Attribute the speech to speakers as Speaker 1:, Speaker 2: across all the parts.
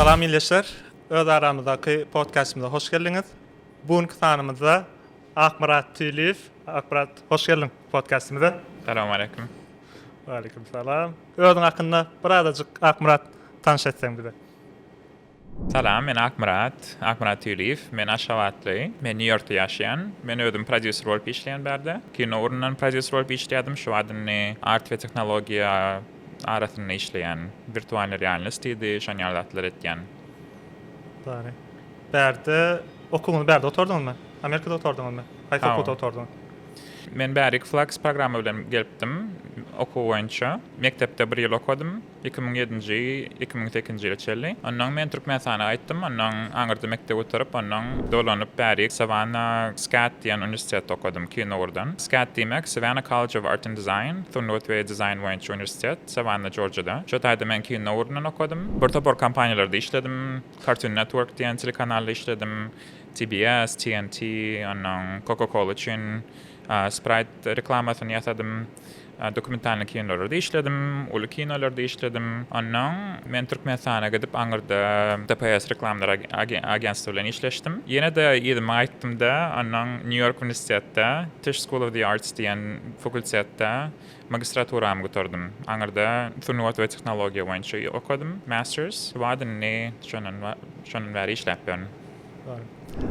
Speaker 1: Salam ildeşler. Öz aramyzdaky podkastymyza hoş geldiňiz. Bu günki sanymyzda Akmyrat Tüýliýew. Akmyrat, hoş geldiň podkastymyza. Salam aleýkum.
Speaker 2: Aleýkum
Speaker 1: salam. Özüň hakynda birazajyk Akmyrat tanyş etseň bize.
Speaker 2: Salam, men Akmyrat, Akmyrat Tüýliýew. Men aşgabatly. Men Nýu-Ýorkda ýaşaýan. Men özüm prodýuser bolup işleýän bärde. Kino ugrundan prodýuser bolup işleýärdim. Şu wagt indi art we tehnologiýa arasynda işleýän. Wirtualnyý realnost diýdi, şon ýaly zatlar etýän.
Speaker 1: Bary. Bärde okuwyňyzy bärde gutardyňyzmy? Amerikada gutardyňyzmy? Haýsy Hawa. okuwda gutardyňyz? Men bärik
Speaker 2: Flax programma bilen gelipdim, okuw boýunça. Mekdepde bir ýyl okadym. Iki müň ýedinji, iki müň sekizinji ýyla çenli. Onnoň men Türkmenistana gaýtdym. Onnoň aňyrda mekdep gutaryp, onnoň dolanyp bärik Savannah SCAD diýen uniwersitetde okadym, Kinugurdan. SCAD diýmek, Savannah College of Art and Design, sungat we dizaýn boýunça uniwersitet, Savannah, Jorjiýada. Şo taýda men Kinugurundan okadym. Bir topar kompaniýalarda işledim. Cartoon Network diýen telekanalda işledim. TBS, TNT, onnoň Coca-Cola üçin. Sprite reklamasyny ýasadym. Dokumentalnyý kinolarda işledim, uly kinolarda işledim. Onnoň men Türkmenistana gidip aňyrda DPS reklamlar agentstwy bilen işleşdim. Ýene-de yzyma gaýtdymda, onnoň Nýu-Ýork uniwersitetde Tisch School of the Arts diýen fakultetde magistraturamy gutardym. Aňyrda sungat we tehnologiýa boýunça okadym, masters. Wagt indi şondan bäri işläp ýörün.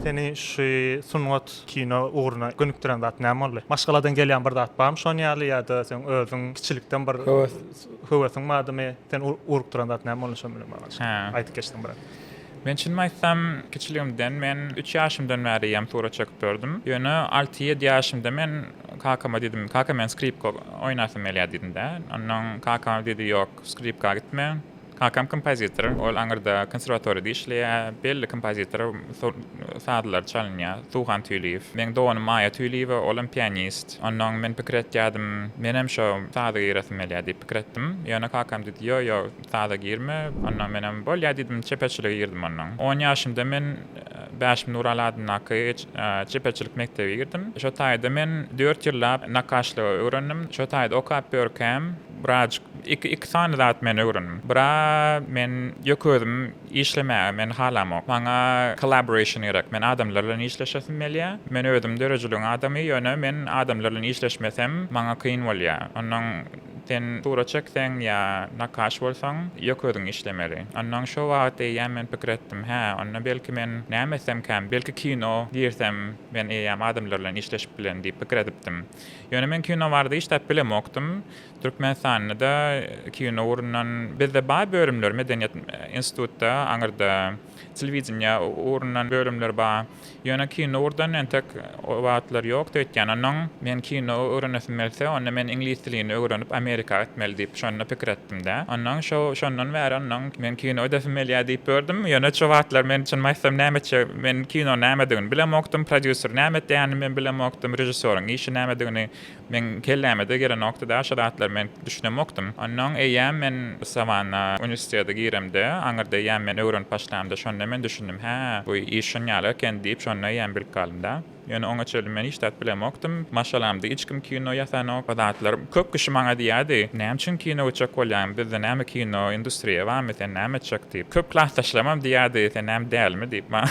Speaker 1: Seni şu sungat, kino ugruna gönükdiren zat näme boldy? Maşgaladan gelýän bir zat barmy şon ýaly ýa-da seň özüň kiçilikden bir Höwes. höwesiň bardymy? Seni ur- urup duran zat näme boldy şo bilen baglanyşykly? Hä. Aýdyp geçseň biraz. Men çynymy aýtsam,
Speaker 2: kiçiligimden men üç ýaşymdan bäri hem surat çekip dördüm. Ýöne alty-ýedi ýaşymda men kakama diýdim, Kaka, men skripka oýnasym gelýär diýdim-de. Onnoň kakam diýdi, Ýok, skripka gitme. Kakam kompozitor, ol aňyrda konserwatoriýada işleýär. Belli kompozitor sazlary çalynýar, Suhan Tüýliýew. Meň doganym Maýa Tüýliýewa, ol hem pianist. Onnoň men pikir etýärdim, menem şo saza giresim gelýär diýip pikir etdim. Ýöne kakam diýdi, Ýo, ýo, saza girme. Onnoň menem bolýar diýdim, çeperçilige girdim onnoň. On ýaşymda men Bäşim Nuraly adyndaky çeperçilik mekdebe girdim. Şo taýda men dört ýyllap nakgaşlygy öwrendim. Şo taýda okap ýörkäm, Biraz iki iki sany zat men öwrendim. Bira men ýöke özüm işlemäge men halamok. Maňa collaboration gerek. Men adamlar bilen işleşesim gelýä. Men özüm döredijiligiň adamy ýöne men adamlar bilen işleşmesem maňa kyn bolýa. Onnoň sen surat çekseň ýa nakaş bolsaň ýöke özüň işlemeli. Onnoň şo wagt eýýäm men pikir etdim. Hä onda belki men näme etsemkäm belki kino girsem men eýýäm adamlar bilen işleşip bilen diýip pikir edipdim. Ýöne men kino barada hiç zat bilemokdym. Türkmenistanda-da kino ugrundan, bizde bar bölümler, medeniýet institutda, aňyrda telewideniýe ugrundan bölümler bar. Ýöne kino ugurdan entek o wagtlar ýokdy, öýtýän onuň men kino öwrenesim gelse, onda men iňlis dilini öwrenip Amerika gitmeli diýip şonda pikir etdim-dä. Onnoň şo, şondan bäri onnoň men kino ödesim gelýär diýip ýördüm. Ýöne şo wagtlar men çynymy aýtsam näme etjek, Men kino nämedigini bilemokdym, prodýuser näme etýänini men bilemokdym, režissýoryň işi nämedigini meň kelläme-de gelenokdy-da, şo zatlara men düşünemokdym. Onnoň eýýäm men Sawanna uniwersitete giremde, aňyrda eýýäm men öwrenip başlamda, şonda men düşündim, hä, bu iş şunýaly eken diýip, şonda eýýäm bilip galdym-da. Ýöne oňa çenli men hiç zat bilemokdym. Maşgalamda hiç kim kino ýasanok. Bu zatlar köp kişi maňa diýýärdi, Näme üçin kino gitjek bolýaň? Bizde näme kino industriýa barmy? Sen näme etjek? diýip. Köp klasdaşlarymam diýýärdi, Sen näme dälimi? diýip maňa.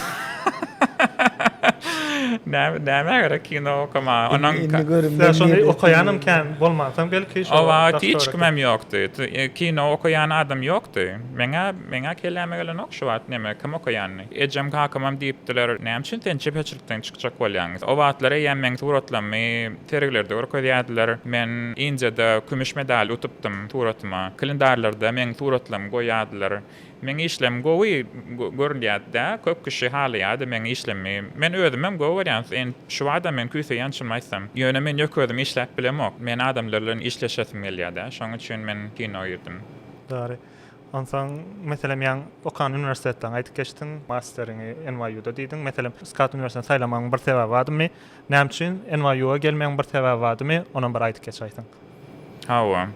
Speaker 2: Nämä gerek kino okamaga? Onuň. Indi görüm. Ýa
Speaker 1: şony okaýanam kän bolmansoň belki şo. O wagt hiç kimem
Speaker 2: ýokdy. Kino okaýan adam ýokdy. Meň-ä, meň-ä kelläme gelenok şu wagt näme, kim okaýanyny. Ejem-kakamam diýipdiler, Näme üçin sen çeperçilikden çykjak bolýaň? O wagtlar eýäm meň suratlarymy sergilerde görkezýärdiler. Men Indiýada kümüş medal utupdym suratyma. Kalendarlarda meň suratlarymy goýýardylar. Meň işlerim gowy görülýärdi-dä, köp kişi halaýardy meň işlerimi. Men özümem gowy görýän, şu barada men küýseýän çynymy aýtsam. Ýöne men ýöne özüm işläp bilemok. Men adamlar bilen işleşesim gelýär-dä, şonuň üçin men kino girdm. Dary.
Speaker 1: Onsoň, meselem, ýaňy okan uniwersitetleň aýdyp geçdiň, masteriňi NYU-da diýdiň. Meselem, skat uniwersiteti saýlamagyň bir sebäbi badymy? Näme üçin NYU-a gelmegiň bir sebäbi badymy? Onam bir aýdyp geçäýseň. Hawa.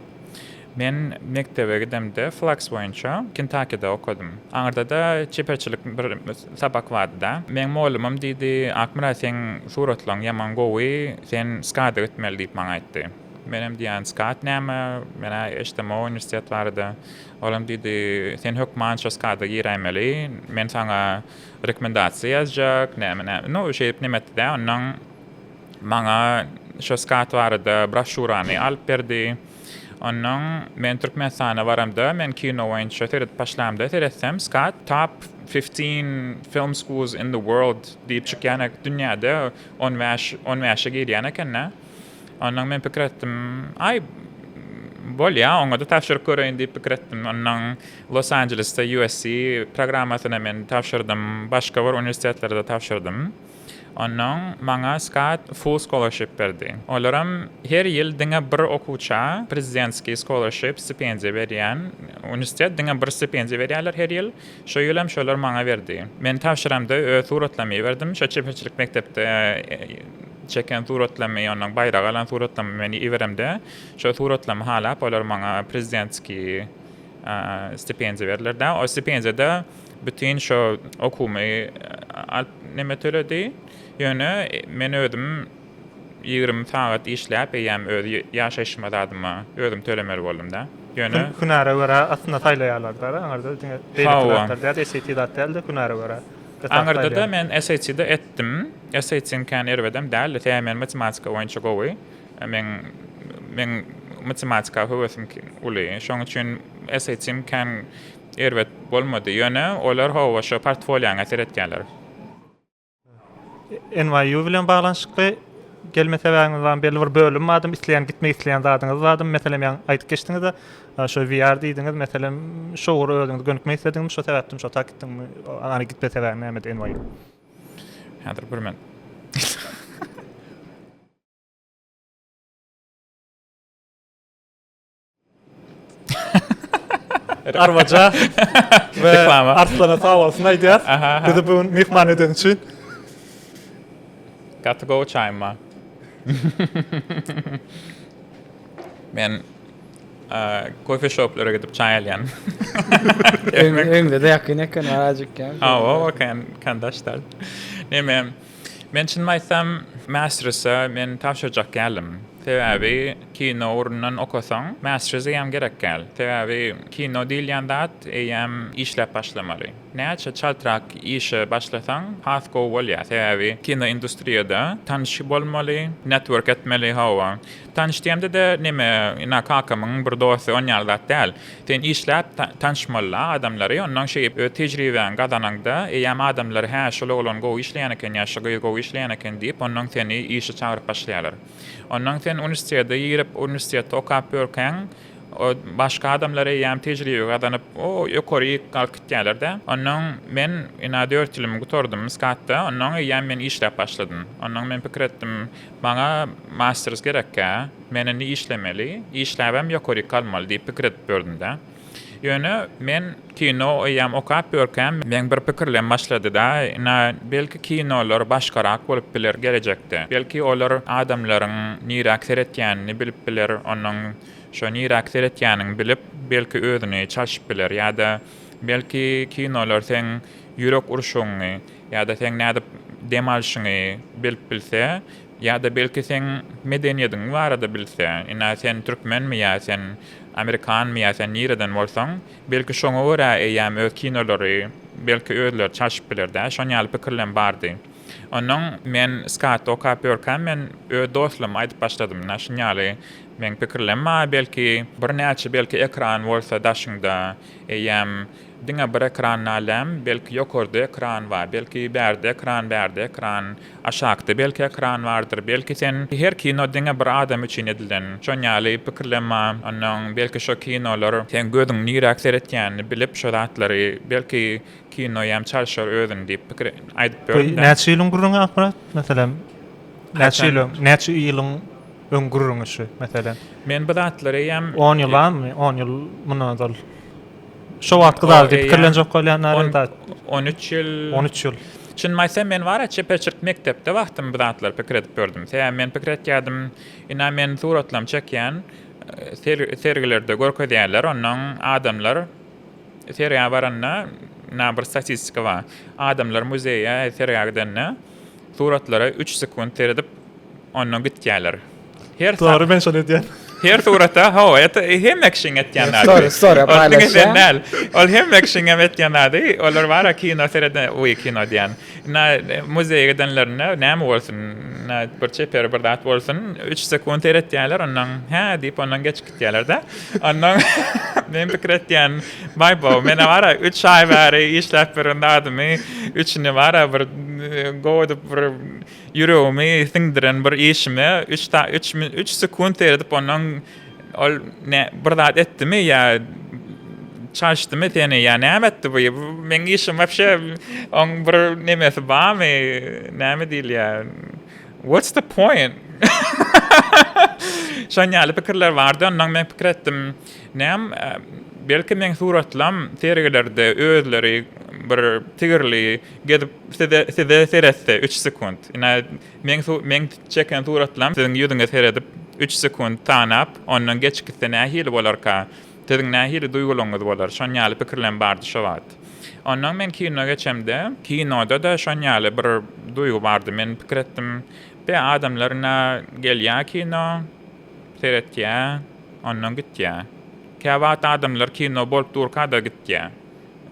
Speaker 2: Men mekdebe gidemde flaks boýunça Kentakide okadym. Aňyrda-da çeperçilik bir sapak bardy-da. Meň mugallymym diýdi, Akmyrat, seň suratlaryň ýaman gowy, sen skada gitmeli diýip maňa aýtdy. Menem diýýän, SCAD näme? Men-ä eşdemok uniwersitet barada. Olam diýdi, Sen hökman şo SCAD-a giräýmeli. Men saňa rekomendasiýa ýazjak, näme-näme. No, şeýdip nem etdi-dä. Onnoň maňa şo SCAD barada broşurany alyp berdi. Onnoň men Türkmenistana baramda, men kino boýunça seredip başlamda, seretsem, SCAD top fifteen film schools in the world diýip çykýan, dünýäde on bäş, on bäşe girýän eken-dä. Ondan men pikir etdim, aý, bolýa, oňa-da tabşyryp göreýin diýip pikir etdim. Ondan Los-Anjelesde USC programmasyna men tabşyrdym, başga bir uniwersitetlere-de tabşyrdym. Ondan maňa Scott full scholarship berdi. Olaram her ýyl diňe bir okuwça prezidentskiý scholarship, stipendiýa berýän uniwersitet, diňe bir stipendiýa berýärler her ýyl. Şu ýylam şolar maňa berdi. Men tabşyramda öz suratlarymy iberdim. Şo çeperçilik mekdepde çeken suratlarymy, ondan baýrak alan suratlarymy men iberemde, şo suratlarymy halap, olar maňa prezidentskiý stipendiýa berdiler-de. O stipendiýada bütin şo okuwymy alyp, neme töledi. Ýöne men özüm. Ýigrimi sagat işläp, eýýäm öz ýaşaýşyma zadyma özüm tölemeli boldum-da. Ýöne. Hünäre görä aslynda
Speaker 1: saýlaýarlar-da, aňyrda diňe beýleki zatlar däl, SAT zat däl-de, hünäre görä. Aňyrda-da men
Speaker 2: SAT-de etdim. SAT-iň kän erbedem däldi, sebäbi men matematika boýunça gowy. Meň meň matematika höwesim uly. Şoň üçin SAT-im kän erbet bolmady. Ýöne olar, hawa, şo portfolioňa seretýärler.
Speaker 1: NYU bilen baglanyşykly gelme sebäbiňiz barmy? Belli bir bölüm barmy? Isleýän gitmek isleýän zadyňyz barmy? Meselem, ýa aýdyp geçdiňiz-de, şo VR diýdiňiz, meselem, şo ugura özüňiz gönükmek islediňizmi, şo sebäpden şo tak gitdiňmi? Ony gitme sebäbiň nämedi NYU? Häzir
Speaker 2: bir men.
Speaker 1: Arwaja we Arslana
Speaker 2: sag bolsun
Speaker 1: aýdýar. Bizi bu gün myhman eden üçin.
Speaker 2: Got to go çaýma. Men kofe shoplara gidip çay alyan.
Speaker 3: Öňde de yakın eken aracık yani. Ha o kan
Speaker 2: kandaşlar. Neme Men çynymy aýtsam, Masters-a men tabşyrjak däldim. Sebäbi kino ugrundan okasaň, Masters eýýäm gerek däl. Sebäbi kino diýilýän zat eýýäm işläp başlamaly. Näçe çaltrak işe başlasaň, has gowy bolýar. Sebäbi kino industriýada tanyşy bolmaly, network etmeli, hawa, Tanyş diýemde-de, neme, ina, kakamyň bir dosty, on ýaly zat däl. Sen işläp, tanyşmol-a adamlary, onnoň şeýdip öz tejribäňi gazanaňda, eýýäm adamlar, hä, şol oglan gowy işleýän eken ýa şu gyz gowy işleýän eken diýip, onnoň seni işe çagyryp başlaýarlar. Onnoň sen uniwersitete girip, uniwersitetde okap ýörkäň, başga adamlar eýýäm tejribe gazanyp, o, ýokaryk galyp gitýärler-dä. Onnoň men, ina, dört ýylymy gutardym Skatda, onnoň eýýäm men işläp başladym. Onnoň men pikir etdim, Maňa masters gerekkä, men indi işlemeli, işläbem ýokaryk galmaly diýip pikir edip ýördüm-dä. Ýöne men kino eýýäm okap ýörkäm, meň bir pikirlem başlady-da, ina, belki kinolar başgarak bolup biler gelejekde. Belki olar adamlaryň niräk seretýänini bilip biler, onuň şo niräk seretýänini bilip, belki özüni çalşyp biler ýa-da belki kinolar seň ýürek urşuňy Ýa-da seň nädip dem alşyňy bilip bilse, ýa-da belki seň medeniýediň barada bilse, ine sen türkmenmi ýa sen amerikanmy ýa sen nireden bolsaň, belki şoňa görä eýýäm öz kinolary belki özleri çalşyp biler-dä, şon ýaly pikirlem bardy. Onnoň men skaty okap ýörkäm men öz dostlaryma aýdyp başladym, ine şun ýaly meň pikirlem bar, belki birnäçe belki ekran bolsa daşyňda eýýäm Diňe bir ekran nalem, belki ýokarda ekran bar, belki bärde ekran, bärde ekran, aşakda belki ekran bardyr, belki sen her kino diňe bir adam üçin edilen, şon ýaly pikirlema, ondan belki şo kinolar seň gözüň niräk seretýänini bilip şo zatlary belki kino ýam çalşar özüni diýip pikir aýdyp ýörün da. Näçe ýylyň gürrüňi Akmyrat?
Speaker 1: Meselem näçe ýyl öň, näçe ýylyň öň gürrüňi şu meselem? Men bu zatlary
Speaker 2: eýýäm. On ýylamy, on
Speaker 1: ýyl mundan ozal. Şo wagtky zady diýip pikirlenjek bolýan arada. On üç
Speaker 2: ýyl. On üç ýyl. Çynymy
Speaker 1: aýtsam, men wara
Speaker 2: çeperçilik mekdepde wagtym bu zatlary pikir edip gördüm. Sebäbi men pikir etýärdim, ina men suratlarymy çekýän, sergilerde görkezýärler, onnoň adamlar sergä baranda, ina bir statistika bar, adamlar muzeýe, sergä gidende, Suratlara üç sekunt seredip, ondan gitýärler. Her
Speaker 1: Dogry, men şony edýän. Her surata,
Speaker 2: hawa, et, hemme kişiň etýän zady. Story, story
Speaker 3: paýlaşýan. Ol hemme
Speaker 2: kişiň hem etýän zady. Olar bara kino sereden, uý, kino diýýän. Na, muzeýe gidenlerinde näme bolsun, na, bir çeper bir zat bolsun, üç sekunt seretýärler, ondan, hä diýip, ondan geç. diýerler-de. Ondan men pikir etýän, baý bo, men bara 3 aý bäri işläp ýören zadymy, üçini bara bir gowy edip bir ýüregimi siňdiren bir işimi 3 ta 3 min 3 sekunt seredip ondan ol ne bir zat etdimi ýa çalyşdymy seni ýa näme etdi bu? Meň işim wapşe oň bir nemesi barmy? Näme diýilýär? What's the point? Şoň ýaly pikirler bardy, ondan men pikir etdim, näm, belki meň suratlam sergilerde özleri bir tigirli gezip size size seretse üç sekunt. Ine, meň meň çeken suratlam siziň ýüzüňe seredip üç sekunt tanap, ondan geçgitse nähili bolarka? Siziň nähili duýgularyňyz bolar? Şon ýaly pikirlerim bardy şo wagt. Ondan men kino geçemde, kinoda-da şon ýaly bir duýgy bardy. Men pikir etdim, Be, adamlar ina gelýär kino, seretýär, ondan gitýär. Käwagt adamlar kino bolup durka-da gitýär.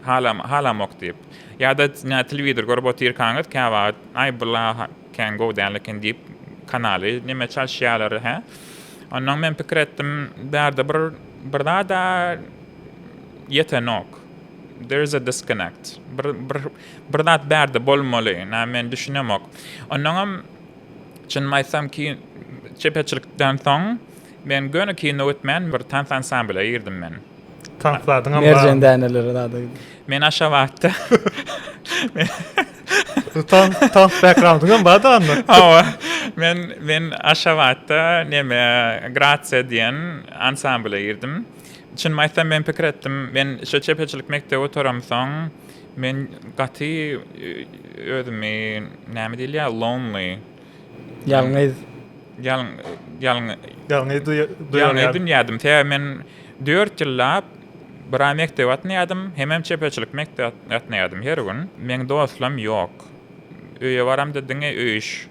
Speaker 2: Halam, halamok diýip. Ýa-da, näme, telewizor görüp otyrkaňyz, käwagt, Aý, bu la, Kän gowy däl eken diýip kanaly neme çalyşýalar hä. Ondan men pikir etdim bärde bir bir zada ýetenok. There is a disconnect. Bir bir bir zat bärde bolmaly. Nä men düşünemok. Ondan hem çynymy aýtsam ki çepeçilikden soň men göni kino gitmän bir tans ansamble girdim men. Tank zadyňam
Speaker 1: bar. Merjen däneleri
Speaker 3: zady. Men Aşabatda.
Speaker 1: Tank tank backgroundyňam bar da onda. Hawa.
Speaker 2: Men men Aşabatda neme Gratsiýa diýen ansambla girdim. Çynymy aýtsam men pikir etdim. Men şu çepeçilik mekdebi gutaramsoň men gaty özümi näme diýilýär lonely. Ýalňyz.
Speaker 3: Ýalň, ýalň.
Speaker 2: Ýalňyz duýýan. Ýalňyz duýýardym. Sebäbi men dört ýyllap bira mekdep atnaýardym, hemem çeperçilik mekdep atnaýardym her gün. Meň dostlam ýok. Öýe baramda diňe öýüş.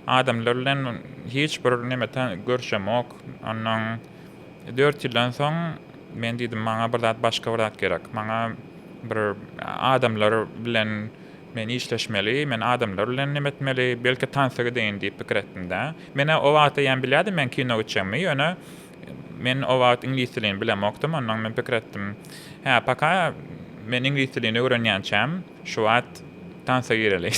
Speaker 2: Adamlar bilen hiç bir neme ta görşemok. Onnoň dört ýyldan soň men diýdim, maňa bir zat, başga bir zat gerek. Maňa bir adamlar bilen. Men işleşmeli, men adamlar bilen neme etmeli, belki tansa gideýin diýip pikir etdim-de. Men-ä o wagt eýýäm bilýärdim men kino gitjegimi, ýöne men o wagt iňlis dilini bilemokdym, onnoň men pikir etdim, hä, paka men iňlis dilini öwrenýänçäm, şu wagt tansa gireli.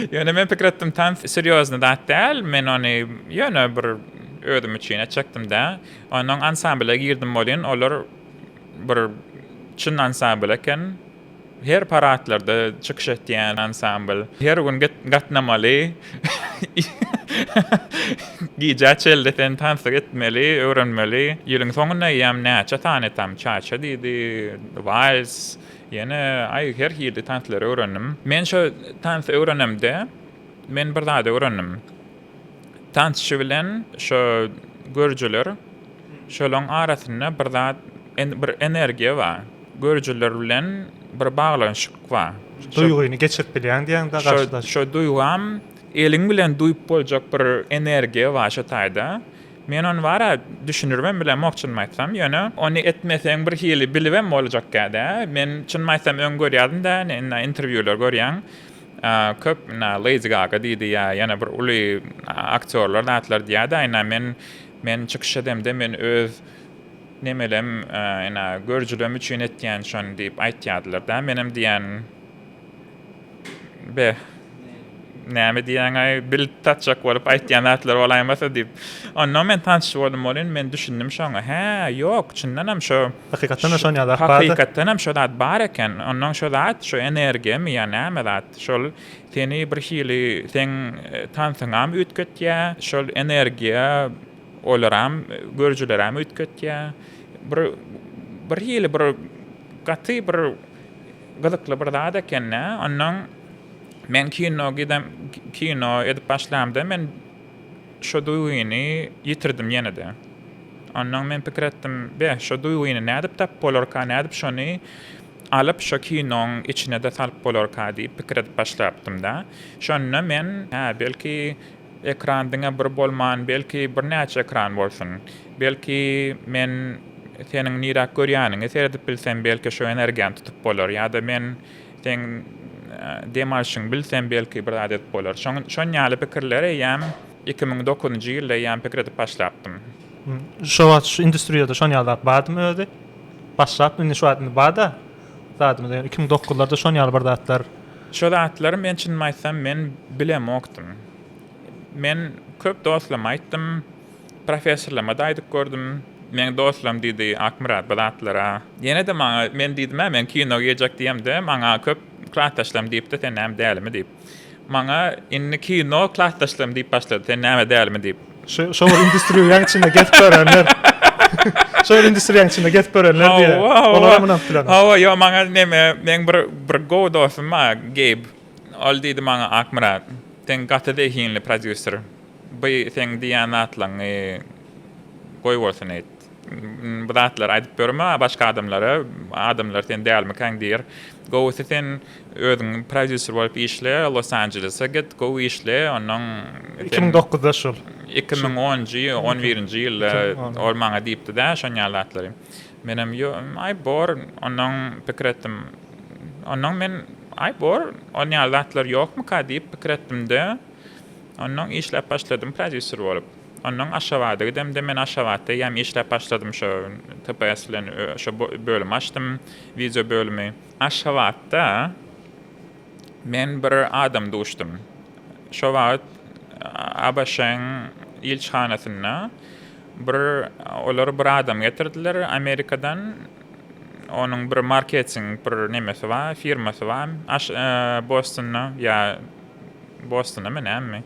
Speaker 2: Ýöne men pikir etdim, tans serýozny zat däl, men ony ýöne bir özüm üçin etjekdim-de. Onnoň ansambla girdim welin, olar bir çyn ansambl eken. Her paradlarda çykyş etýän ansambl. Her gün gatnamaly. Gijä çel desen tansyk etmeli, öwrenmeli. Ýylyň soňunda eýýäm näçe sany tam çaça diýdi, wals, ýene aý her hili tanslary öwrendim. Men şo tansy öwrenemde, men bir zady öwrendim. Tansçy bilen şo görüjiler, şolaryň arasynda bir zat, bir energiýa bar. Görüjiler bilen bir baglanyşyk bar. Duýgyny geçirip
Speaker 1: bilýäň diýäň-de garşydaş. Şo duýgam,
Speaker 2: eliň bilen duýup boljak bir energiýa bar şo taýda. Men ony bar-a düşünirmem bilemok çynymy aýtsam. Ýöne ony etmeseň bir hili bilibem boljakkä-dä. Men çynymy aýtsam öň görýärdim-dä, indi interwýular görýän. Köp Lady Gaga diýdi ýa ýene bir uly aktýorlar zatlar diýýärdi ina men men çykyş edemde men öz nemelem ina görjülem üçin etýän şony diýip aýtýardylar da menem diýýän be näme diýýäňaý bilip tatjak bolup aýtýan zatlar bolaýmasa diýip ondan men tanşy boldum bolyn men düşündim şoňa hä ýok çyndanam şo Hakykatdanam şon ýa zat
Speaker 1: bardy. Hakykatdanam şo zat bar
Speaker 2: eken. Onnoň şo zat, şo energiýamy ýa näme zat, şol seni bir hili seň tansyňam üýtgetýä, şol energiýa olaram, görüjileräm üýtgetýä. Bir bir hili bir gaty bir gyzykly bir zat eken-dä. Onnoň men kino gidem kino edip başlamda men Şo duýgyny ýitirdim ýene-de. Onnoň men pikir etdim, be, şo duýgyny nädip tapyp bolarka, nädip şony alyp şo kinoň içine-de salyp bolarka diýip pikir edip başlapdym-da. Şonda men, hä, belki, ekran diňe bir bolman, belki, birnäçe ekran bolsun. Belki, men seniň niräk görýäniňi seredip bilsem, belki, şo energiýany tutup bolar. Ýa-da men Seň dem alşyňy bilsem, belki, bir zat edip bolar. Şoň, şon ýaly pikirler eýýäm iki müň dokuzynjy ýylda eýýäm pikir edip başlapdym. Şo
Speaker 1: wagt şu industriýada şon ýaly zat bardymy özi? Başlapdym, indi şu wagt indi bar-da zadymyz, ýöne iki müň dokuzlarda şon ýaly bir zatlar. Şo zatlary
Speaker 2: men çynymy aýtsam, men bilemokdym. Men köp dostlaryma aýtdym. Professorlama-da aýdyp gördüm. Meň dostlaram diýdi, Akmyrat, bu zatlar-a. Ýene-de maňa, men diýdim-ä, men kino girjek diýemde, maňa köp klasdaşlarym diýipdi, sen näme dälimi diýip. Maňa indi kino klasdaşlarym diýip başlady, sen näme dälimi diýip. Şo bir
Speaker 1: industriýaň içinde gezip görenler. Şo bir industriýaň içinde gezip görenler diýýä. Olaram ynanyp bilemok. Hawa, ýok, maňa neme,
Speaker 2: meň bir bir gowy dostum bar, Geýb. Ol diýdi maňa, Akmyrat, sen gaty zehinli prodýuser. By seň diýýän zatlaňňy goý bolsun eýt. Bu zatlary aýdyp ýörme başga adamlara, adamlar sen dälmikäň diýer. Gowusy sen özüň prodýuser bolup işle, Los Anjelese git, gowy işle, onnoň Iki müň dokuzda
Speaker 1: şul. Iki müň onunjy,
Speaker 2: on birinji ýylda ol maňa diýipdi-dä şon ýaly zatlary. Menem ýo, aý bor, onnoň pikir etdim. Onnoň men, aý bor, on ýaly zatlar ýokmyka diýip pikir etdim-de. Onnoň işläp başladym prodýuser bolup. Onnoň Aşgabada gidemde men Aşgabatda eýýäm işläp başladym şo TPS bilen şo bölümi açdym wideo bölümi. Aşgabatda men bir adam duşdum. Şo wagt ABŞ-yň ilçihanasynda bir olar bir adam getirdiler Amerikadan onuň bir marketing bir nemesi bar firmasy bar Bostonda ýa Bostunymy, nämemi?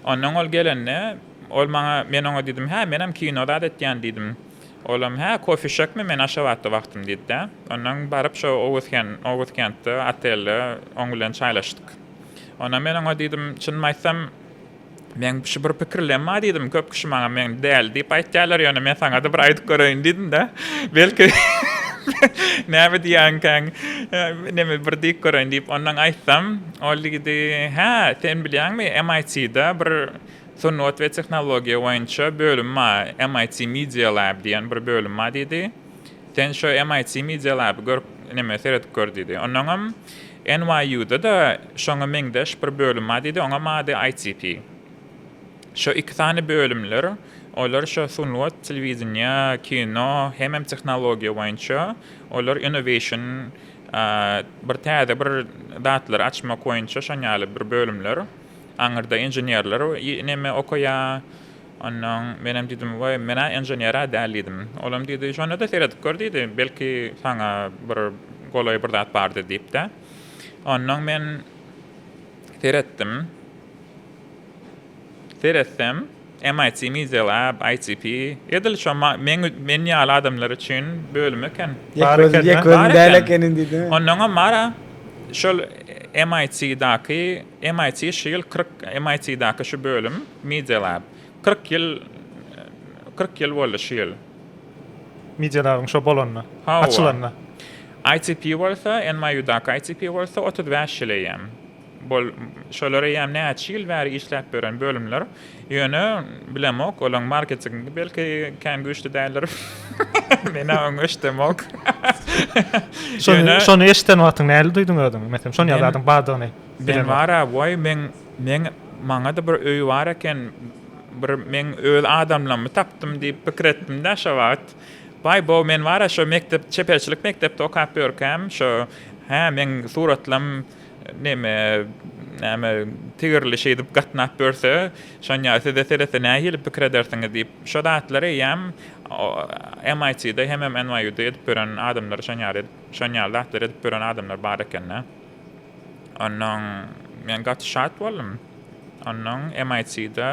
Speaker 2: Onnoň ol gelende, ol maňa, men oňa diýdim, hä, menem kino zat etýän diýdim. Olam, hä, kofişekmi, men Aşgabatda wagtym diýdi-de. Onnoň baryp şo Oguzken, Oguzkentde otelde oň bilen çaýlaşdyk. Onnoň men oňa diýdim, çynymy aýtsam, meň şu bir pikirlem bar diýdim, köp kişi maňa men däli diýip aýtýarlar, ýöne men saňa-da bir aýdyp göreýin diýdim-de. Belki näme diýýänkäň, neme bir diýip göreýin diýip onnoň aýtsam, Ol ýigidi, Hä, sen bilýäňmi, MIT-de bir sungat we tehnologiýa boýunça bölüm bar, MIT Media Lab diýen bir bölüm bar diýdi. Sen şo MIT Media Lab-y görüp, näme, seredip gör diýdi. Onnoňam NYU-da-da şoňa meňzeş bir bölüm bar diýdi, oňam ady ITP. Şo iki sany bölümler, olar şo sungat, telewideniýe, kino hemem tehnologiýa boýunça, olar innovation Bir täze bir zatlary açmak boýunça şon ýaly bir bölümler. Aňyrda inženerler neme okaýa. Ondan men hem diýdim, "Waý, men-ä inžener-ä däl" diýdim. Ol hem diýdi, "Şonda-da seredip gör" diýdi. "Belki saňa bir golaý bir zat bardyr" diýip-de. Ondan men seretdim. Seretsem, MIT Middle Lab, ITP, edil şo meň men ýaly adamlar üçin bölüm eken. Bar eken, ýek özüň däl
Speaker 3: ekeniň diýdi. Onnoňam bara
Speaker 2: şol MIT-daky, MIT şu ýyl kyrk, MIT-daky şu bölüm, Middle Lab, kyrk ýyl, kyrk ýyl boldy şu ýyl. Middle
Speaker 1: Lab-yň şo bolanyna, açylanyna. ITP
Speaker 2: bolsa, NYU-daky ITP bolsa otuz bäş ýyl eýýäm. Bol, şolar eýýäm näçe ýyl bäri işläp ýören bölümler. Ýöne, bilemok, olaň marketingi belki kän güýçli däldir. Men-ä oňa eşidemok. Şony,
Speaker 1: şony eşiden wagtyň nähili duýduň özüňi? Meselem, şon ýaly zadyň bardygyny bilen. Men bar-a,
Speaker 2: waý, men, men, maňa-da bir öý bar eken, bir men öz adamlarymy tapdym diýip pikir etdim-dä şo wagt. Waý, bo, men bar-a, şo mekdep, çeperçilik mekdepde okap ýörkäm, şo, hä, meň suratlam, Neme, näme, tigirli şeýdip gatnap ýörse, Şonýa size seretse nähili pikir edersiňiz diýip, şo zatlary eýýäm MIT-de hemem NYU-da edip ýören adamlar şon ýaly edip, şon ýaly zatlary edip ýören adamlar bar eken-de. Onnoň men gaty şat boldum. Onnoň MIT-de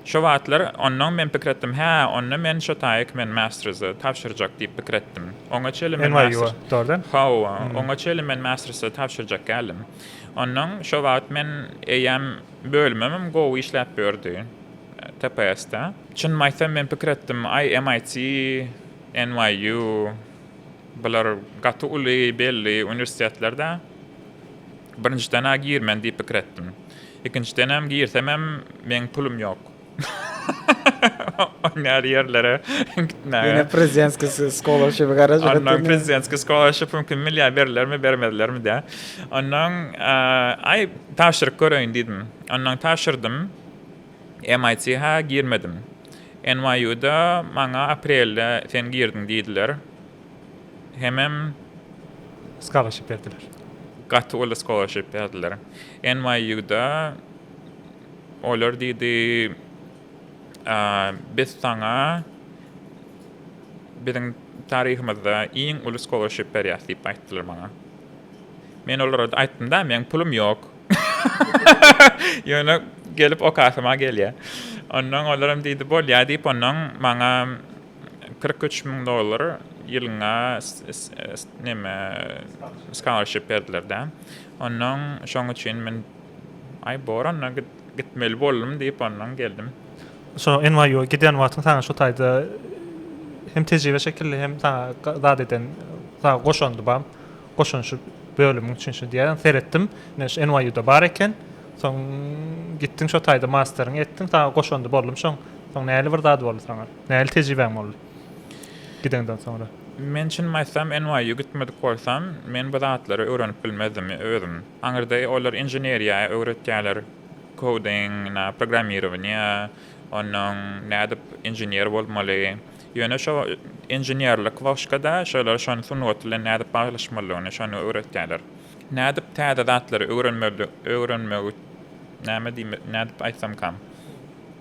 Speaker 2: Şo wagtlar onnoň men pikir etdim, Hä, onda men şo taýyk men Mästrize tabşyrjak diýip pikir etdim. Oňa çenli men Mästris. NYU-a, dogrudan?
Speaker 1: Hawa, oňa çenli
Speaker 2: men Mästrise tabşyrjak däldim. Onnoň şo wagt men eýýäm bölümimem gowy işläp ýördi TPS-de. Çynymy aýtsam, men pikir etdim, Aý, MIT, NYU, bular gaty uly, belli uniwersitetler-dä. Birinjiden-ä girmen diýip pikir etdim. Ikinjidenem girsemem meň pulum ýok. Oň ýaly ýerlere gitmäge. Ýöne prezidentski
Speaker 3: skolarshipi garaş. Ondan prezidentski
Speaker 2: skolarshipi mümkin milýär berlermi bermezlermi dä. Ondan aý tabşyryk göreýin diýdim. Ondan tabşyrdym. MIT-ha girmedim. NYU-da maňa aprelde sen girdiň diýdiler. hemem
Speaker 1: Scholarship berdiler. Gaty uly
Speaker 2: scholarship berdiler. NYU-da olar diýdi, biz saňa biziň taryhymyzda iň uly scholarship berýäs diýip aýtdylar maňa. Men olara aýtdym-da, meň pulum ýok. Ýöne gelip okasym-a gelýär. Ondan olaram diýdi, bolýar diýip, ondan maňa Kyrk üç müň dollar ýylyňa neme scholarship berdiler dä. Ondan şoň üçin men aý boranda gitmeli boldum diýip ondan geldim. Şo
Speaker 1: NYU-a gidýän wagtyň saňa şu taýda hem tejribe şekilli hem saňa zat eden saňa goşandy bar. Goşanşy bölümiň üçin şu diýýän seretdim. Men şu NYU-da bar eken. Soň gitdiň şo taýda masteriňi etdiň saňa goşandy boldum şoň. Soň näli bir zat boldy saňa? Nähili tejribäň boldy gideňden soňra? Men çynymy aýtsam,
Speaker 2: NYU gitmedik bolsam, men bu zatlary öwrenip bilmezdim özüm. Aňyrda olar inženeriýa öwretýärler, coding, programmirowaniýa, onnoň nädip inžener bolmaly. Ýöne şo inženerlik wagşkada şolar şony sungat bilen nädip baglanyşmalydygyny şony öwretýärler. Nädip täze zatlary öwrenmeli öwrenmegi näme diýme nädip aýtsamkam.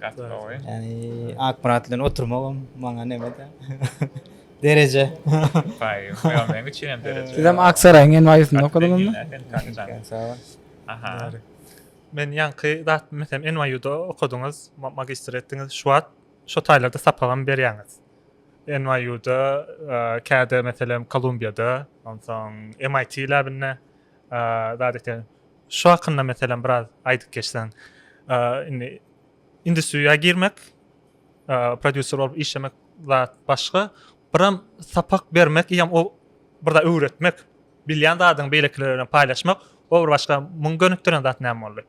Speaker 1: Gaty
Speaker 3: gowy. Yani Akmyrat bilen oturmagam maňa nemede. Dereje. Bay,
Speaker 2: yo men üçin hem dereje. Siz hem Aksaraýyň en
Speaker 3: baýysynda okadyňyzmy? Sag bol. Aha.
Speaker 2: Men
Speaker 1: ýaňky zat mesem NYU-da okadyňyz, magistr etdiňiz, şu wagt şo taýlarda sapagam berýäňiz. NYU-da, käde meselem Kolumbiýada, onsoň MIT läbinde zat eken. Şu hakynda meselem biraz aýdyp geçseň. Indi industriýa girmek, prodýuser bolup işlemek zat başga. Biram sapak bermek ýa o bir zat öwretmek, bilýän zadyňy beýlekilere bilen paýlaşmak, o bir başga. Muňa gönükdiren zat näme boldy?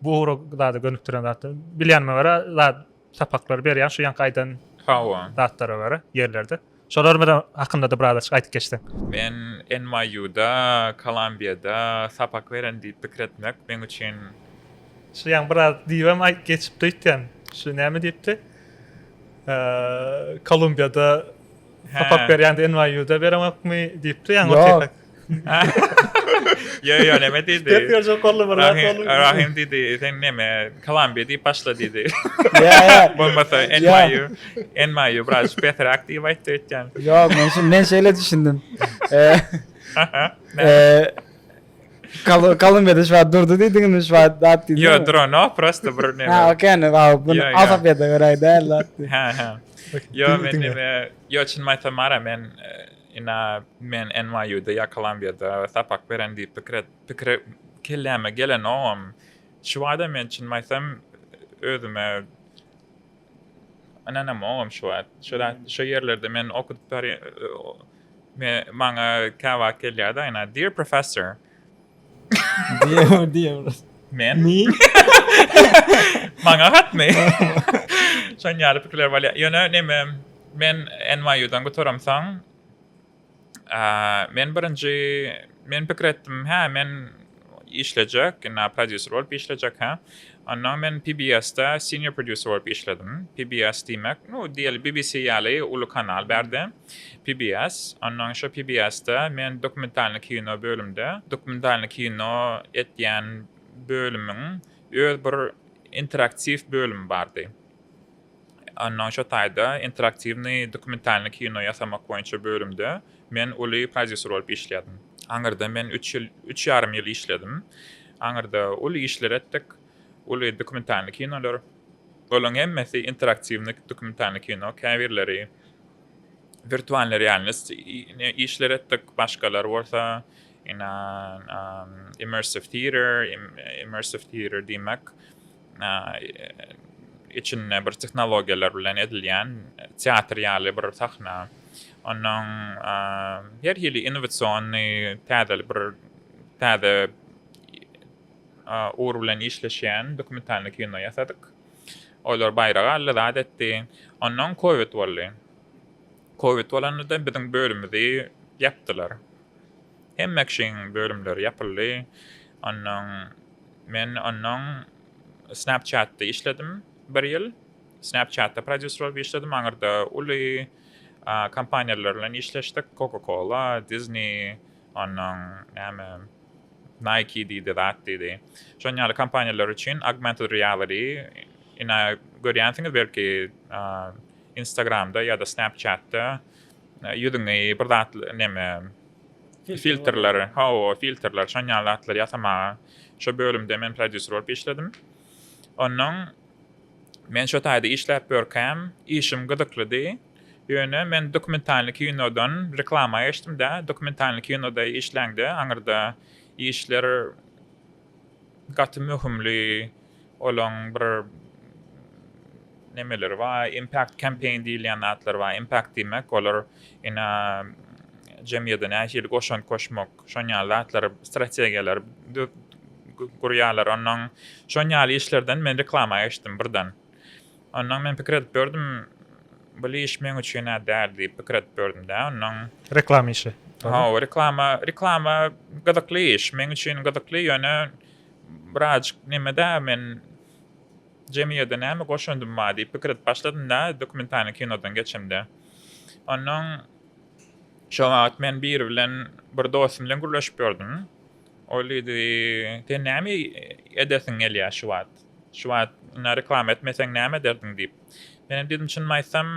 Speaker 1: Bu ugra zada gönükdiren zat. Bilýänime görä, zat Sapaklary berýän şu ýaňky aýdan Hawa. zatlara görä ýerlerde. Şolar bilen hakynda-da biraz açyk aýdyp geçseň. Men
Speaker 2: NYU-da, Kolumbiýada sapak beren diýip pikir etmek meň üçin. Şu ýaňy
Speaker 1: biraz diýibem aý geçipdi öýtýän. Şu näme diýipdi? Kolumbiýada. Sapak berýände NYU-da bereňokmy diýipdi ýaňy Ýok. Ýo
Speaker 2: ýo neme diýdi. Ders berjek boldy bir zat
Speaker 1: Rahim, boldy. Rahim diýdi,
Speaker 2: sen neme, Kolumbiýa diýip başla diýdi. Ýa ýa. Bolmasa
Speaker 3: NYU,
Speaker 2: NYU biraz pesräk diýip aýtdy öýtýän. Ýok, men şu men
Speaker 3: şeýle düşündim. Eee, Aha, näme? eee, Kal kalın bedi şu an durdu diydin mi şu an dat diydin Yo dura no prosta
Speaker 2: bir ne Ha okey ne abi bunu
Speaker 3: azap yedi göray değil lan Ha ha Yo men ne
Speaker 2: yo çin mayta mara men e, ina men NYU'da ya Kolumbiyada sapak beren diýip pikir et pikir kelläme gelen oňam şu wada men çin maytam özüme Ynanam ogam şu wagt. Şu zat şu ýerlerde men okudyp bary me maňa käwagt gelýärdi aýna dear professor. Dear
Speaker 3: dear. Men.
Speaker 2: Maňa hatmy? Şon ýaly pikirler bolýar. Ýöne neme men NYU-dan gutaramsoň Men birinji men pikir etdim, hä, men işlejek, indi prodýuser bolup işlejek, hä. Ondan men PBS-de senior prodýuser bolup işledim. PBS diýmek, nu, diýeli BBC ýaly uly kanal bärde, PBS. Ondan şo PBS-de men dokumentalnyý kino bölümde, dokumentalnyý kino etýän bölümiň öz bir interaktiw bölümi bardy. Onnoň şo taýda interaktiwnyý dokumentalnyý kino ýasamak boýunça bölümde men uly prodýuser bolup işleýärdim. Aňyrda men üç ýyl, üç ýarym ýyl işledim. Aňyrda uly işler etdik, uly dokumentalnyý kinolar. Olaryň hemmesi interaktiwnyý dokumentalnyý kino, käbirleri wirtualnyý realnost işler etdik, başgalary bolsa ina immersive theatre, immersive theatre diýmek, içinde bir tehnologiýalar bilen edilýän teatr ýaly bir sahna. Ondan her hili innowasionny täze bir täze ugur bilen işleşýän dokumentalny kino ýasadyk. Olar baýrak aldy, zat etdi. Ondan kowid boldy. Kowid bolanda biziň bölümimizi ýapdylar. Hemme kişiň bölümleri ýapyldy. Ondan Men onnoň Snapchat-da işledim bir ýyl. Snapchat-da prodýuser bolup işledim. Aňyrda uly kompaniýalar bilen işleşdik. Coca-Cola, Disney, onnoň näme, Nike diýdi, zat diýdi. Şon ýaly kompaniýalar üçin augmented reality, ine, görýänsiňiz belki, Instagram-da ýa-da Snapchat-da ýüzüňi bir zat, neme, filtrleri, hawa, filtrleri, şon ýaly zatlary ýasamaga şo bölümde men prodýuser bolup işledim. Onnoň men şo taýda işläp ýörkäm, işim gyzyklydy. Ýöne men dokumentalny kinodan reklama geçdim-de, dokumentalny kinoda işläňde, aňyrda işler gaty möhümli olaň bir nemeleri bar impact campaign diýilýän zatlar bar impact diýmek olar ina jemgyýede nähili goşant goşmak şon ýaly zatlar strategiýalar gurýarlar onnoň şon ýaly işlerden men reklama geçdim birden. Ondan men pikir edip ýördüm, bul iş meň üçin-ä däl diýip pikir edip ýördüm-dä. Ondan. Reklama işi.
Speaker 1: Hawa, reklama,
Speaker 2: reklama gyzykly iş, meň üçin gyzykly, ýöne birazjyk neme-dä, men jemgyýete näme goşandym bar diýip pikir edip başladym-da, dokumentalnyý kinodan geçemde. Ondan şo wagt men biri bilen, bir dostum bilen gürleşip ýördüm. Ol diýdi, Sen näme edesiň gelýär şu wagt? Şu wagt ine reklama etmeseň näme ederdiň diýip. Men hem diýdim çynymy aýtsam